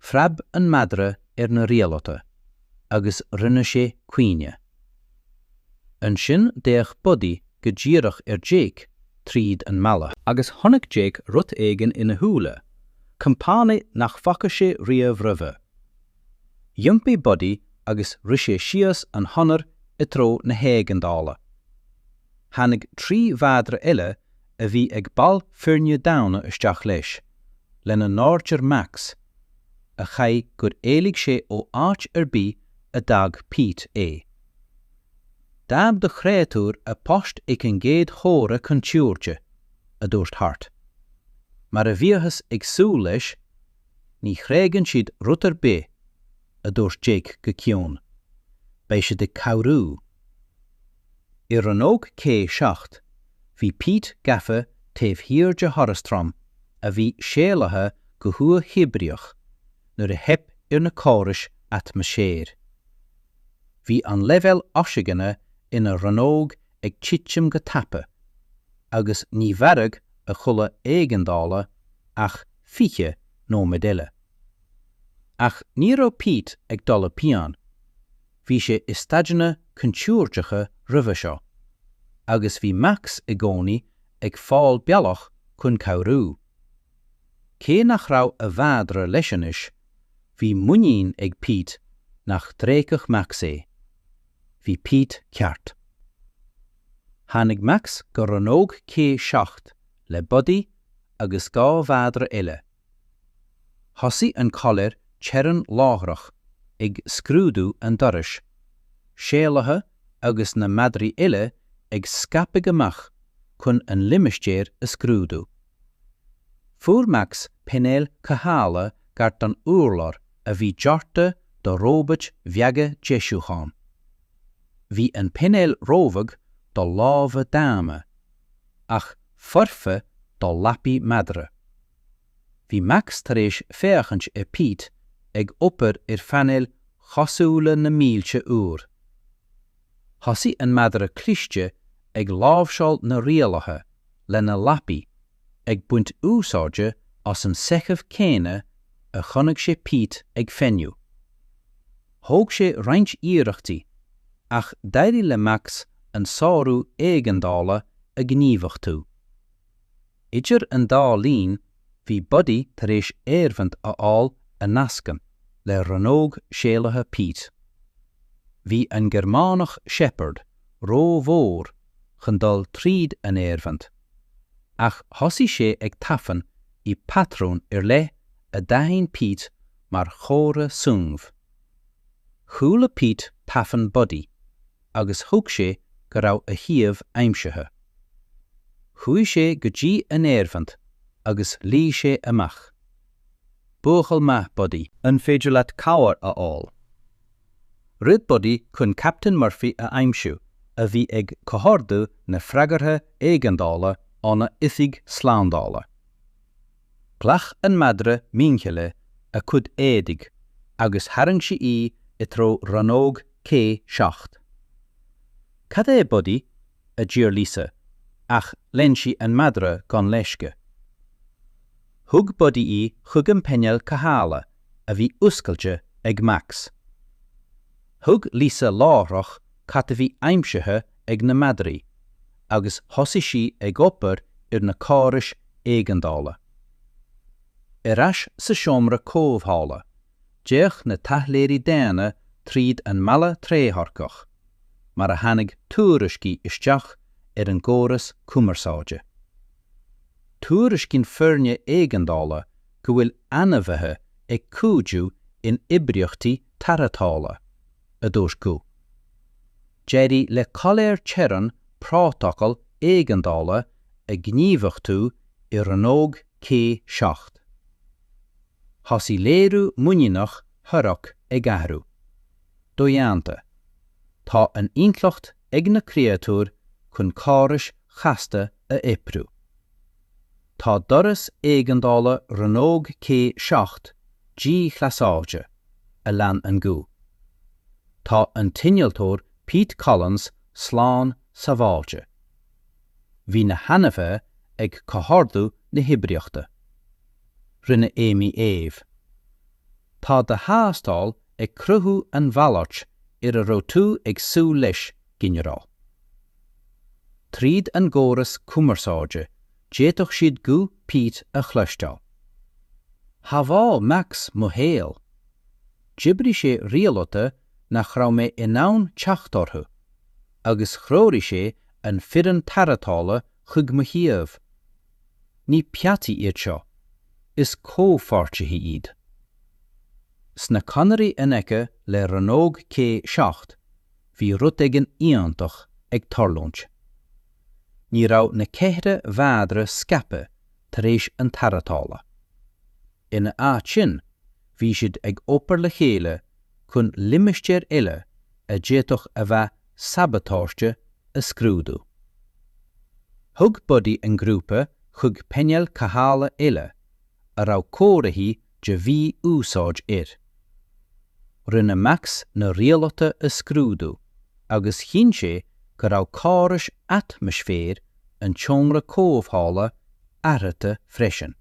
Phreab an madra ar na rialtáin agus rinne sé caoineadh. Ansin d'fhéach Buddy go díreach ar Jake tríd an mballa. Agus chonaic Jake rud éigin ina shúile compánaigh nach bhfaca sé riamh roimhe. D'iompaigh Buddy agus rith sé síos an chonair i dtreo na héigeandála. Tháinig trí mhadra eile a bhí ag baill foirne daonna isteach leis, lena n-áirtear Max, a chaithfidh gur éalaigh sé ó áit ar bith a d'fhág Pete é. D'fhág do chréatúr a post ag an gcéad chomhartha contúirte, a dúirt Hart. Mar a bhíothas ag súil leis, ní thréigeann siad rud ar bith, a dúirt Jake go ciúin. Beidh siad ag cabhrú. I rannóg C 7, bhí Pete gafa taobh thiar de dhoras trom a bhí séalaithe go huathoibríoch nuair a theip ar na córais atmaisféir. Bhí an leibhéal oisigine ina rannóg ag titim go tapa agus ní mhairfeadh a chulaith éigeandála ach 20 nóiméad eile. Ach ní raibh Pete ag dul i bpianic. Bhí sé i staideanna contúirteacha roimhe seo agus bhí Max i gcónaí ag fáil bealach chun cabhrú. Cé nach raibh a mhadra leis anois, bhí muinín ag Pete nach dtréigfeadh Max é. Bhí Pete ceart. Tháinig Max go rannóg C7 le Buddy agus dhá mhadra eile. Thosaigh an Collie Teorann láithreach ag scrúdú an dorais séalaithe agus na madraí eile ag scaipeadh amach chun an limistéar a scrúdú. Fuair Max painéal cothabhála gar don urlár a bhí deartha do róbait bheaga deisiúcháin. Bhí an painéal róbheag do lámha daonna. ach foirfe do lapaí madra. Bhí Max tar éis féachaint ar Pete ag obair ar phainéil chosúla na mílte uair. Thosaigh an madra cliste ag láimhseáil na rialaithe lena lapaí ag baint úsáide as an seicheamh céanna a chonaic sé Pete ag feidhmiú. Thóg sé roinnt iarrachtaí ach d'éirigh le Max an sárú éigeandála a ghníomhachtú. Idir an dá linn, bhí Buddy tar éis aerbheint a fháil a nascann le rannóg séalaithe Pete. Bhí an Gearmánach Shepherd ró-mhór chun dul tríd an aerbheint, ach thosaigh sé ag tafann i bpatrún ar leith a d'aithin Pete mar chomhartha suímh. Chuala Pete tafann Buddy agus thuig sé go raibh a shuíomh aimsithe. Chuaigh sé go dtí an aerbheint agus ghlaoigh sé amach. Buachaill maith Buddy! An féidir leat cabhair a fháil? Rith Buddy chun Captain Murphy a aimsiú a bhí ag comhordú na freagartha éigeandála óna oifig slándála. Ghlac an madra muinchille a cuid éadaigh agus tharraing sí í i dtreo rannóg C 7. 'Cad é, Buddy? a d'fhiafraigh Lisa ach lean sí an madra gan leisce. Thug Buddy í chuig an painéal cothabhála a bhí oscailte ag Max. Thuig Lisa láithreach cad a bhí aimsithe ag na madraí agus thosaigh sí ag obair ar na córais éigeandála. Ar ais sa seomra comhdhála, d'fhéach na taidhleoirí daonna tríd an mballa trédhearcach mar a tháinig tuairiscí isteach ar an gcóras cumarsáide. Tuairiscíonn foirne éigeandála go bhfuil ainmhithe ag cuidiú in oibríochtaí tarrthála. a dúirt guth. D'éirigh le coiléir teorann Prótacal Éigeandála a ghníomhachtú i Rannóg C seacht. Thosaigh léiriú muiníneach Thorak ag athrú. Dodhéanta, tá an intleacht ag na créatúir chun córais chasta a oibriú. Tá doras éigeandála Rannóg C 7 díghlasáilte, a lean an guth. Tá an t-innealtóir Pete Collins slán sabháilte. Bhí na hainmhithe ag comhordú na hoibríochta. Rinne Amy éamh. Tá do thástáil ag cruthú an mhalairt ar a raibh tú ag súil leis ginearál. Tríd an gcóras cumarsáide d'fhéadfadh siad guth Pete a chloisteáil. Shábháil Max mo shaol. D'oibrigh sé rialuithe nach raibh mé in ann teacht orthu agus threoraigh sé an foireann tarrthála chuig mo shuíomh. Ní peataí iad seo, is comhpháirtithe iad. Sna conairí in aice le rannóg C 7. Bhí rud éigin iontach ag tarlúint. Ní raibh na ceithre mhadra scaipthe tar éis an tarrthála. Ina áit sin, bhí siad ag obair le chéile chun limistéir eile a d'fhéadfadh a bheith sabatáiste a scrúdú. Thug Buddy an grúpa chuig painéal cothabhála eile, a raibh comharthaí de mhí-úsáid air. Rinne Max na rialuithe a scrúdú agus chinn sé go raibh córais atmaisféir an tseomra comhdhála athraithe freisin.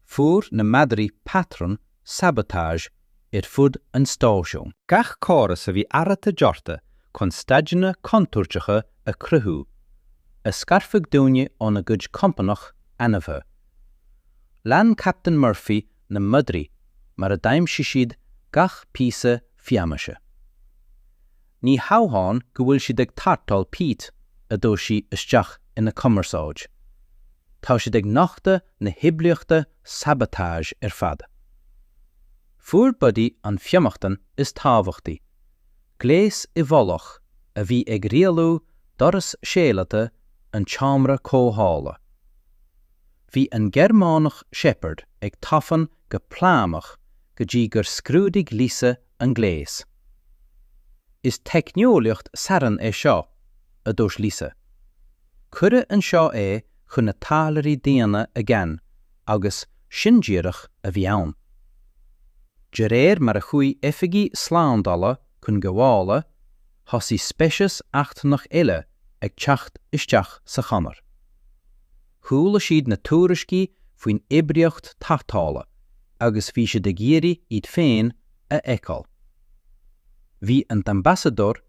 Fuair na madraí patrún sabotage ar fud an stáisiúin. Gach córas a bhí athraithe deartha chun staideanna contúirteacha a chruthú, a scarfadh daoine óna gcuid compánach ainmhithe. Lean Captain Murphy na madraí mar a d'aimsigh siad gach píosa fianaise. Ní hamháin go bhfuil siad ag tarrtháil Pete, a dúirt sí isteach ina cumarsáid, tá siad ag nochtadh na hoibríochta sabotage ar fad. Fuair Buddy an fionnachtain is tábhachtaí, gléas i bhfolach a bhí ag rialú doras séalata an tseomra comhdhála. Bhí an Gearmánach Shepherd ag tafann go plámach go dtí gur scrúdaigh Lisa an gléas. Is teicneolaíocht Saran é seo, a dúirt Lisa. Cuireadh anseo é chun na taidhleoirí daonna a ghan agus sin díreach a bhí ann. De réir mar a chuaigh oifigigh slándála chun gabhála, thosaigh speiceas eachtrannach eile ag teacht isteach sa chonair. Chuala siad na tuairiscí faoin oibríocht tarrthála agus bhí siad ag iarraidh iad féin a fheiceáil. Bhí an tAmbasadóir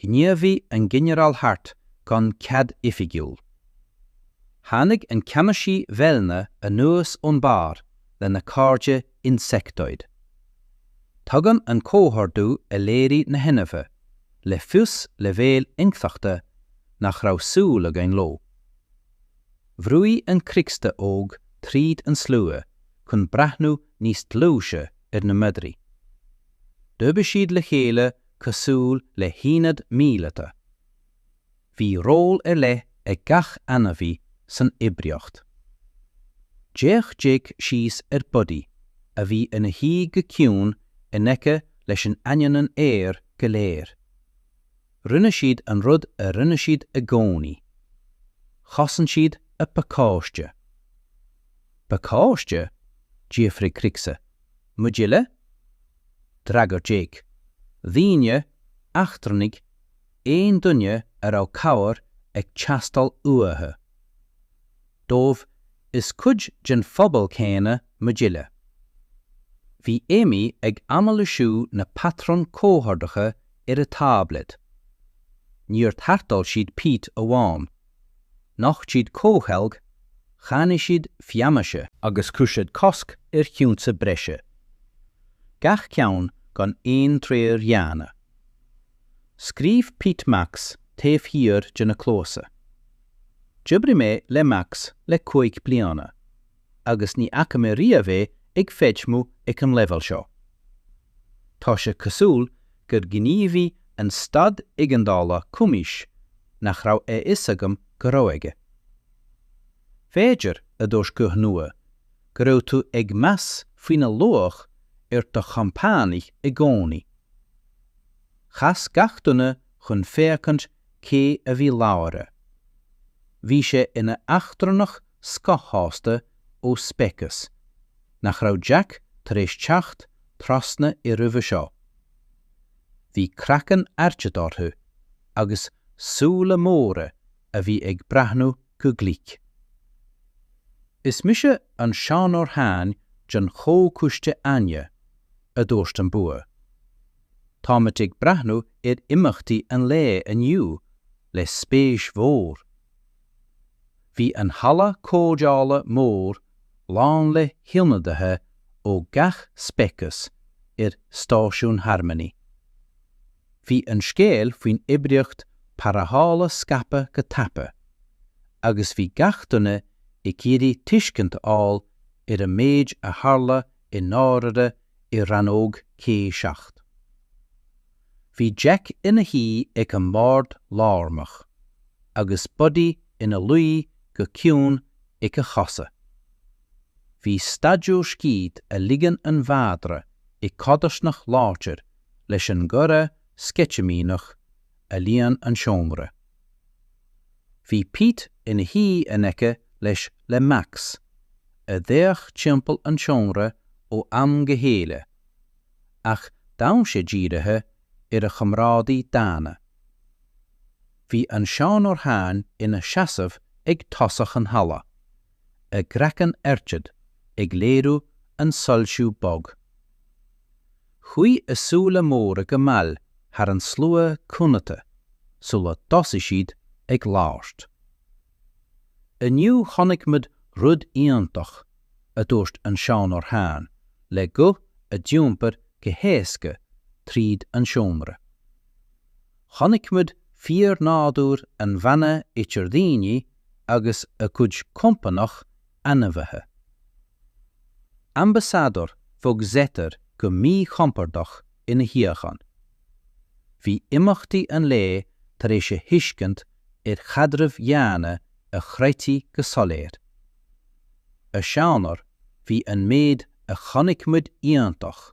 Ghníomhaigh an Ginearál Hart gan cead oifigiúil. Tháinig an ceannasaí Velna anuas ón bharr lena cairde Insectoid. Tugann an comhordú a léirigh na hainmhithe le fios leibhéal intleachta nach raibh súil againn leo. Bhrúigh an Cricksa óg tríd an slua chun breathnú níos dlúise ar na madraí. D'oibrigh siad le chéile cosúil le haonad míleata. Bhí ról ar leith ag gach ainmhí san oibríocht. D'fhéach Jake síos ar Buddy a bhí ina shuí go ciúin in aice leis in ainneoin an aire go léir. Rinne siad an rud a rinne siad i gcónaí. Chosain siad a bpacáiste. Pacáiste? d'fhiafraigh Cricksa. Muid uile? D'fhreagair Jake, Daoine, eachtrannaigh, aon duine a raibh cabhair ag teastáil uathu. Dóibh, is cuid den phobal céanna muid uile. Bhí Amy ag anailisiú na patrún comhordacha ar a táibléad. Níor tharrtháil siad Pete amháin. Nocht siad comhcheilg, chaomhnaigh siad fianaise. agus chuir siad cosc ar chionta breise. Gach ceann gan aon treoir dhaonna. Scríob Pete Max taobh thiar de na cluasa. D'oibrigh mé le Max le cúig bliana. agus ní fhaca mé riamh é ag feidhmiú ag an leibhéal seo. Tá sé cosúil gur ghníomhaigh an staid éigeandála cumais nach raibh a fhios agam go raibh aige. B'fhéidir, a dúirt guth nua, go raibh tú ag meas faoina luach ar do chompánaigh i gcónaí. Chas gach duine chun féachaint cé a bhí labhartha. Bhí sé ina eachtrannach scothaosta ó speiceas nach raibh Jack tar éis teacht trasna air roimhe seo. Bhí craiceann airgead orthu agus súile móra a bhí ag breathnú go glic. Is mise an Seanóir Thane den Chomhchoiste Aine, a dúirt an bua. Táimid ag breathnú ar imeachtaí an lae inniu le spéis mhór. Bhí an halla comhdhála mór lán le hionadaithe ó gach speiceas ar Stáisiún Harmony. Bhí an scéal faoin oibríocht tharrthála scaipthe go tapa agus bhí gach duine ag iarraidh tuiscint a fháil ar an méid a tharla i ndáiríre i rannóg C7. Bhí Jack ina shuí ag an mbord lárnach agus Buddy ina luí go ciúin ag a chosa. Bhí staidiúir scíth a ligean an mhadra i codarsnacht láidir leis an gcomhrá sceitimíneach a líon an seomra. Bhí Pete ina shuí in aice leis le Max, a d'fhéach timpeall an tseomra ó am go chéile, ach d'fhan sé dírithe ar a chomrádaí daonna. Bhí an Seanóir Thane ina seasamh ag tosach an halla, a gcraiceann airgead ag léiriú an soilsiú bog. Chuaigh a súile móra go mall thar an slua cúnata sula dtosaigh siad ag labhairt. 'Inniu chonaic muid rud iontach, a dúirt an Seanóir Thane le guth a d'iompair go héasca tríd an seomra. 'Chonaic muid fíornádúr an bhanna idir daoine agus a gcuid compánach ainmhithe. Ambasadóir Bhog Zetter go míchompordach ina shuíochán. Bhí imeachtaí an lae tar éis a thuiscint ar chaidrimh dhaonna a chroitheadh go soiléir. A Seanóir, bhí an méid a chonaic muid iontach.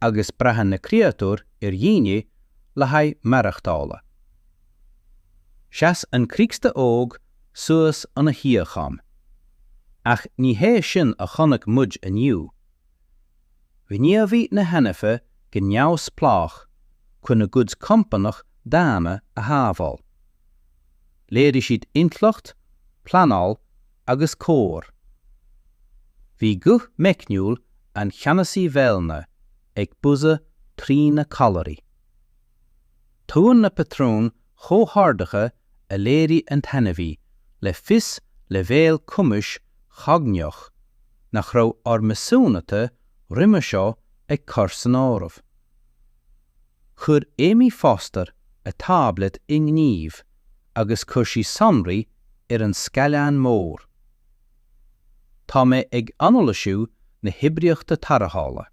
agus braitheann na créatúir ar dhaoine le haghaidh maireachtála. Sheas an Críocsta óg suas ina shuíochán. Ach ní hé sin a chonaic muid inniu. Ghníomhaigh na hainmhithe go neamhspleách chun a gcuid compánach daonna a shábháil. Léirigh siad intleacht, pleanáil agus comhar. Bhí guth meicniúil an Cheannasaí Vellner ag buzzer trí na callairí. Tugann na patrúin chomhordaithe a léirigh an t-ainmhí le fios leibhéal cumais chognaíoch nach raibh ár measúnuithe roimhe seo ag cur san áireamh. Chuir Amy Foster a táibléad i ngníomh agus chuir sí sonraí ar an scáileán mór. Tá mé ag anailísiú na hoibríochta tarrthála.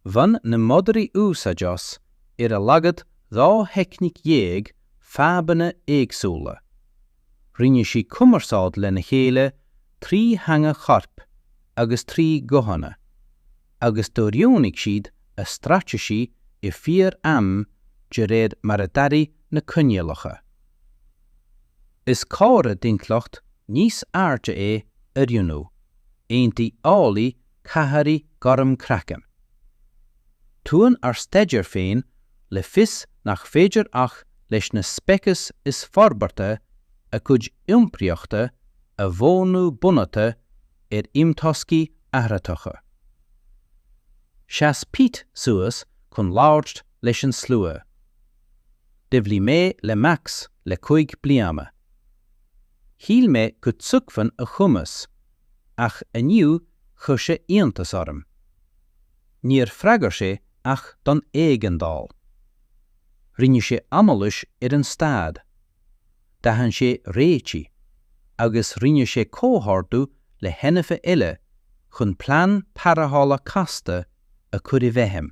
Bhain na madraí úsáid as ar a laghad dhá theicníc dhéag fadhbanna éagsúla. Rinne sí cumarsáid lena chéile trí theanga choirp agus trí ghuthanna. agus d'oiriúnaigh siad a straitéisí i fíor am de réir mar a d'athraigh na coinníollacha. Is comhartha d'intleacht níos airde é oiriúnú, aontaigh eolaí Cathairí gorm craicinn. Tugann ár staidéir féin le fios nach féidir ach leis na speicis is forbartha a gcuid iompraíochta a mhodhnú bunaithe ar imthoscaí athraitheacha. Sheas Pete suas chun labhairt leis an slua. D'oibrigh mé le Max le cúig bliana. Shíl mé go dtuigfinn a chumas ach inniu chuir sé iontas orm. Níor freagair sé ach don éigeandáil. Rinne sé anailís ar an staid. D'aithin sé réitigh agus rinne sé comhordú le hainmhithe eile chun plean tarrthála casta a chur i bhfeidhm.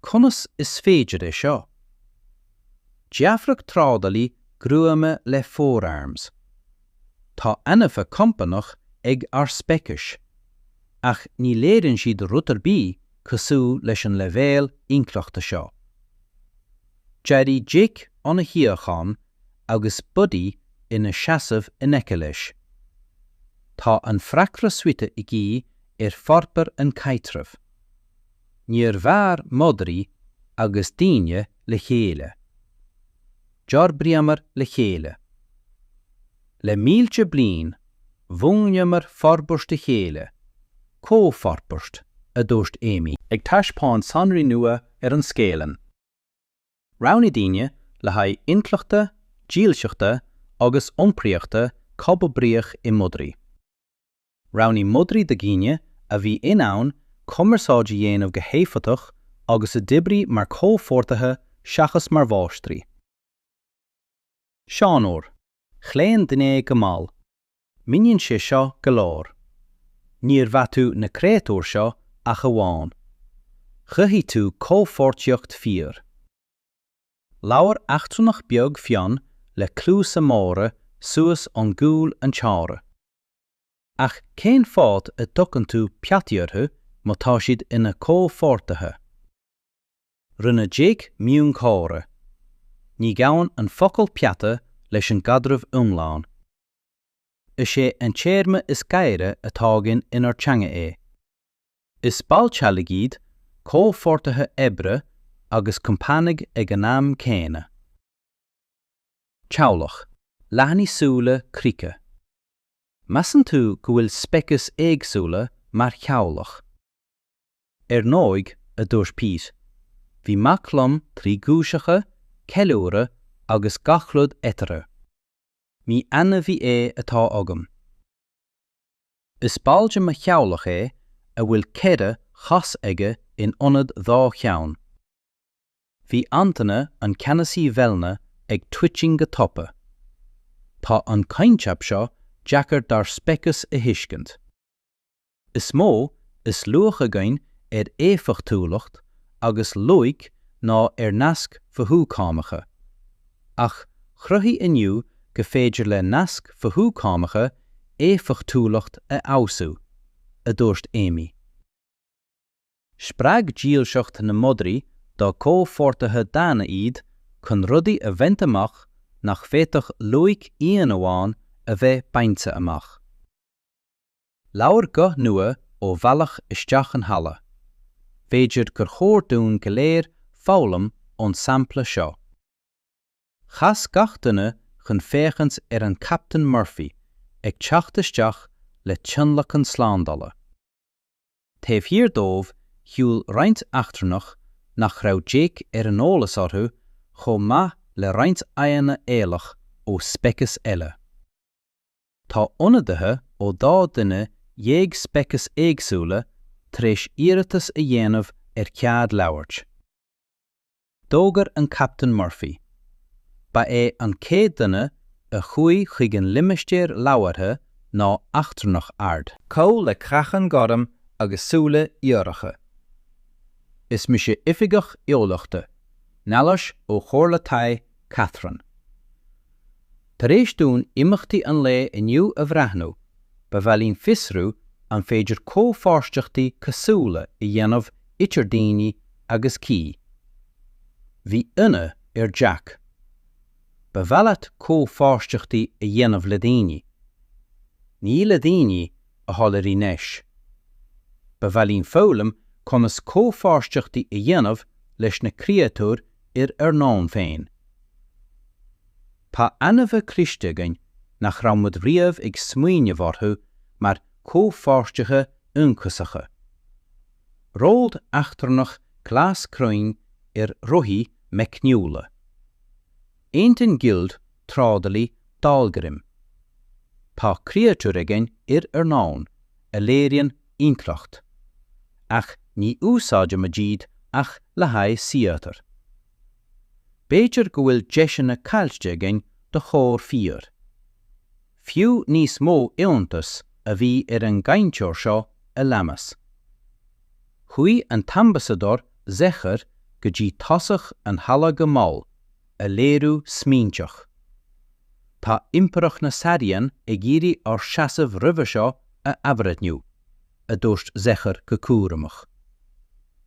Conas is féidir é seo? D'fhiafraigh trádálaí gruama le four arms. Tá ainmhithe compánach ag ár speiceas, ach ní léiríonn siad rud ar bith cosúil leis an leibhéal intleachta seo. D'éirigh Jake óna shuíochán agus Buddy ina sheasamh in aice leis. Tá an freagra suite i gcaoi ar fhorbair an caidreamh. Níor mhair madraí agus daoine le chéile. D'fhorbraíomar le chéile. Le mílte bliain, mhúnlaíomar forbairt a chéile, comhfhorbairt, a dúirt Amy. Ag taispeáint sonraí nua ar an scáileán. Roghnaigh daoine le haghaidh intleachta, dílseachta agus iompraíochta comhoibríoch i madraí. Roghnaigh madraí do dhaoine a bhí in ann cumarsáid a dhéanamh go héifeachtach agus a d'oibrigh mar comhpháirtithe seachas mar mháistrí. Seanóir, chlaon duine go mall. Míníonn sé seo go leor. Níor pheataigh tú na créatúir seo ach amháin. Chruthaigh tú comhpháirtíocht fíor. Labhair eachtrannach beag fionn le cluasa móra suas ón gcúl an tseomra. Ach cén fáth a dtugann tú peataí orthu má tá siad ina comhpháirtithe? Rinne Jake miongháire. Ní ghabhann an focal peata leis an gcaidreamh iomlán. Is é an téarma is gaire atá againn inár dteanga é. Is baill teaghlaigh iad, comhpháirtithe oibre agus compánaigh ag an am céanna. Teaghlach. Leathnaigh súla Krika. Measann tú go bhfuil speicis éagsúla mar theaghlach. Ar ndóigh, a dúirt Pete, bhí Max liom trí guaiseacha, ceiliúradh agus gach rud eatarthu. Ní ainmhí é atá agam. Is ball de mo theaghlach é a bhfuil ceithre chos aige in ionad dhá cheann. Bhí aintéine an Ceannasaí Vellner ag twitching go tapa. Tá an coincheap seo deacair dár speiceas a thuiscint. Is mó is luach againn ar éifeachtúlacht agus loighic ná ar naisc mhothúchánacha. Ach chruthaigh inniu go féidir le naisc mhothúchánacha éifeachtúlacht a fheabhsú, a dúirt Amy. Spreag dílseacht na madraí dá comhpháirtithe daonna iad chun rudaí a bhaint amach nach bhféadfadh loighic íon amháin a bheith bainte amach. Labhair guth nua ó bhealach isteach an halla. B'fhéidir gur chóir dúinn go léir foghlaim ón sampla seo. Chas gach duine chun féachaint ar an Captain Murphy ag teacht isteach le tionlacan slándala. Taobh thiar dóibh shiúl roinnt eachtrannach nach raibh Jake ar an eolas orthu chomh maith le roinnt aghaidheanna eolach ó speiceas eile. Tá ionadaithe ó dhá dhuine dhéag speiceas éagsúla tar éis iarratas a dhéanamh ar chead labhairt. D'fhógair an Captaen Murphy. Ba é an chéad duine a chuaigh chuig an limistéar labhartha ná eachtrannach ard caol le craiceann gorm agus súile iolracha. Is mise Oifigeach Eolaíochta, Nealais ó Chomhairle Thai Catherine. Tar éis dúinn imeachtaí an lae inniu a bhreathnú, ba mhaith linn fiosrú an féidir comhpháirtíochtaí cosúla a dhéanamh idir daoine agus Ki. Bhí ionadh ar Jack. Ba mhaith leat comhpháirtíochtaí a dhéanamh le daoine. Ní le daoine, a shoiléirigh Neis. Ba mhaith linn foghlaim conas comhpháirtíochtaí a dhéanamh leis na créatúir ar ár ndomhan féin. Tá ainmhithe cliste againn nach raibh muid riamh ag smaoineamh orthu mar chomhpháirtithe ionchasacha. Ród eachtrannach glas cruinn ar rothaí meicniúla. Aontaíonn gild trádálaí Dahlgrim. Tá créatúir againn ar ár ndomhan a léiríonn intleacht, ach ní úsáidimid iad ach le haghaidh saothar. B'fhéidir go bhfuil deiseanna caillte againn do chomhar fíor. Fiú níos mó iontas a bhí ar an gcainteoir seo a leanas. Chuaigh an tAmbasadóir Zekhar go dtí tosach an halla go mall, a léiriú smaointeach. Tá Impireacht na Sairean ag iarraidh ár seasamh roimhe seo a athbhreithniú, a dúirt Zekhar go cúramach.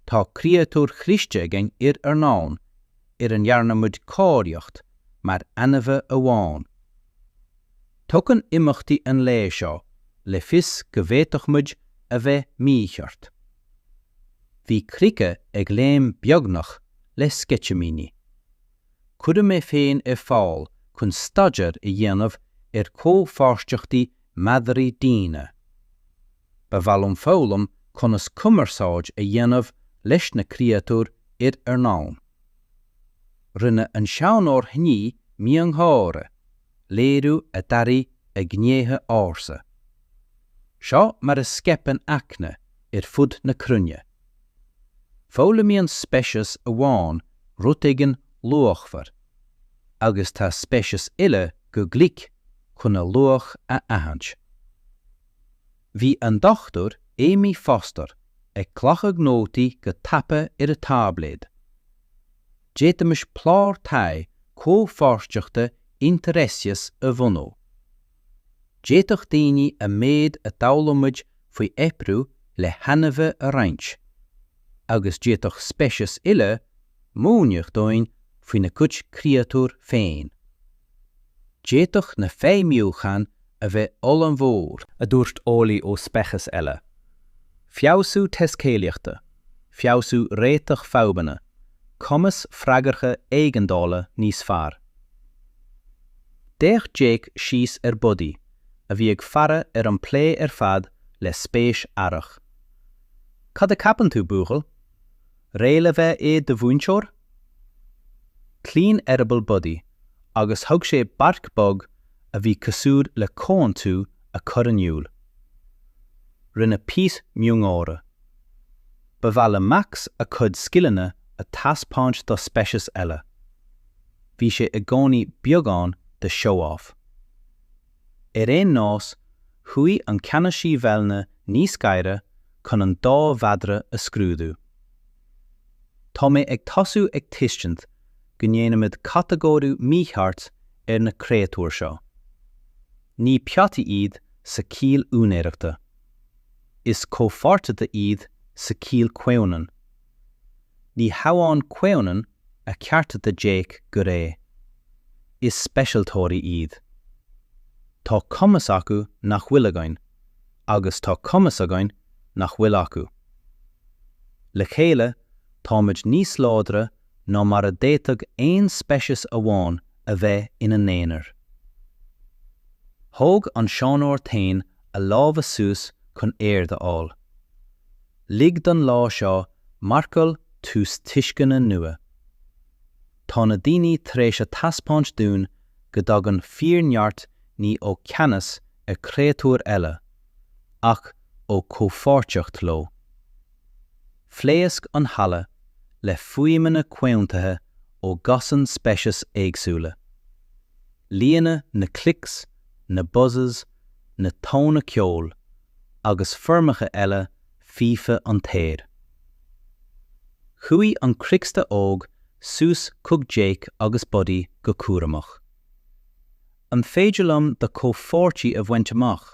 Tá créatúir chliste againn ar ár ndomhan ar a ndearna muid cáilíocht mar ainmhithe amháin. Tugann imeachtaí an lae seo le fios go bhféadfadh muid a bheith mícheart. Bhí Cricca ag léim beagnach le sceitimíní. Cuirfidh mé féin ar fáil chun staidéar a dhéanamh ar chomhpháirtíochtaí madraí daonna. Ba mhaith liom foghlaim conas cumarsáid a dhéanamh leis na créatúir ar ár ndomhan. Rinne an seanóir Shní miongháire, léiriú a d'athraigh a gnéithe ársa. Seo mar a scaipeann eagna ar fud na cruinne. Foghlaimíonn speiceas amháin rud éigin luachmhar, agus tá speicis eile go glic chun a luach a aithint. Bhí an Dr Amy Foster ag glacadh nótaí go tapa ar a táibléad. D'fhéadfaimis clár taighde comhpháirteachta interspecies a bhunú. D'fhéadfadh daoine an méid a d'fhoghlaimid faoi oibriú le hainmhithe a roinnt, agus d'fhéadfadh speicis eile múineadh dúinn faoina gcuid créatúir féin. D'fhéadfadh na feidhmiúcháin a bheith ollmhór, a dúirt eolaí ó speiceas eile, feabhsú taiscéalaíochta, feabhsú réiteach fadhbanna, cumas freagartha éigeandála níos fearr. D'fhéach Jake síos ar Buddy, a bhí ag faire ar an bplé ar fad le spéis aireach. Cad a cheapann tú, buachaill? Réidh le bheith i do mhúinteoir? Chlaon eireaball Buddy agus thug sé bark bog a bhí cosúil le comhaontú a chur in iúl. Rinne Pete miongháire. Ba mhaith le Max a chuid scileanna a thaispeáint do speiceas eile. Bhí sé i gcónaí beagán de show-off. Ar aon nós, chuaigh an ceannasaí Vellner níos gaire chun an dá mhadra a scrúdú. Tá mé ag tosú ag tuiscint go ndéanaimid catagóiriú mícheart ar na créatúir seo. Ní peataí iad sa chiall úinéireachta. Is comhpháirtithe iad sa chiall comhionann. Ní hamháin comhionann a cheartaigh Jake go réidh. Is speisialtóirí iad. Tá cumas acu nach bhfuil againn, agus tá cumas againn nach bhfuil acu. Le chéile, táimid níos láidre ná mar a d'fhéadfadh aon speiceas amháin a bheith ina n-aonar. Thóg an seanóir Tain a lámha suas chun aird a fháil. Lig don lá seo marcáil tús tuisceana nua. Tá na daoine tar éis a thaispeáint dúinn go dtagann fíorneart ní ó cheannas ar chréatúir eile, ach ó chomhpháirteacht leo. Phléasc an halla le fuaimeanna comhaontaithe ó dhosaen speiceas éagsúla. Líonadh na clicks, na buzzes, na tóna ceoil agus foirmeacha eile faofa an t-aer. Chuaigh an cricksta óg suas chuig Jake agus Buddy go cúramach. An féidir liom do chomhpháirtí a bhaint amach?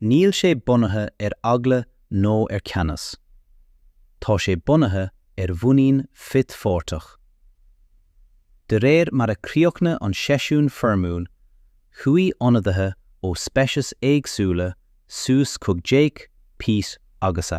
Níl sé bunaithe ar eagla nó ar cheannas. Tá sé bunaithe ar mhuinín frithpháirteach. De réir mar a chríochnaigh an seisiún foirmiúil, chuaigh ionadaithe ó speicis éagsúla suas chuig Jake, Pete agus a.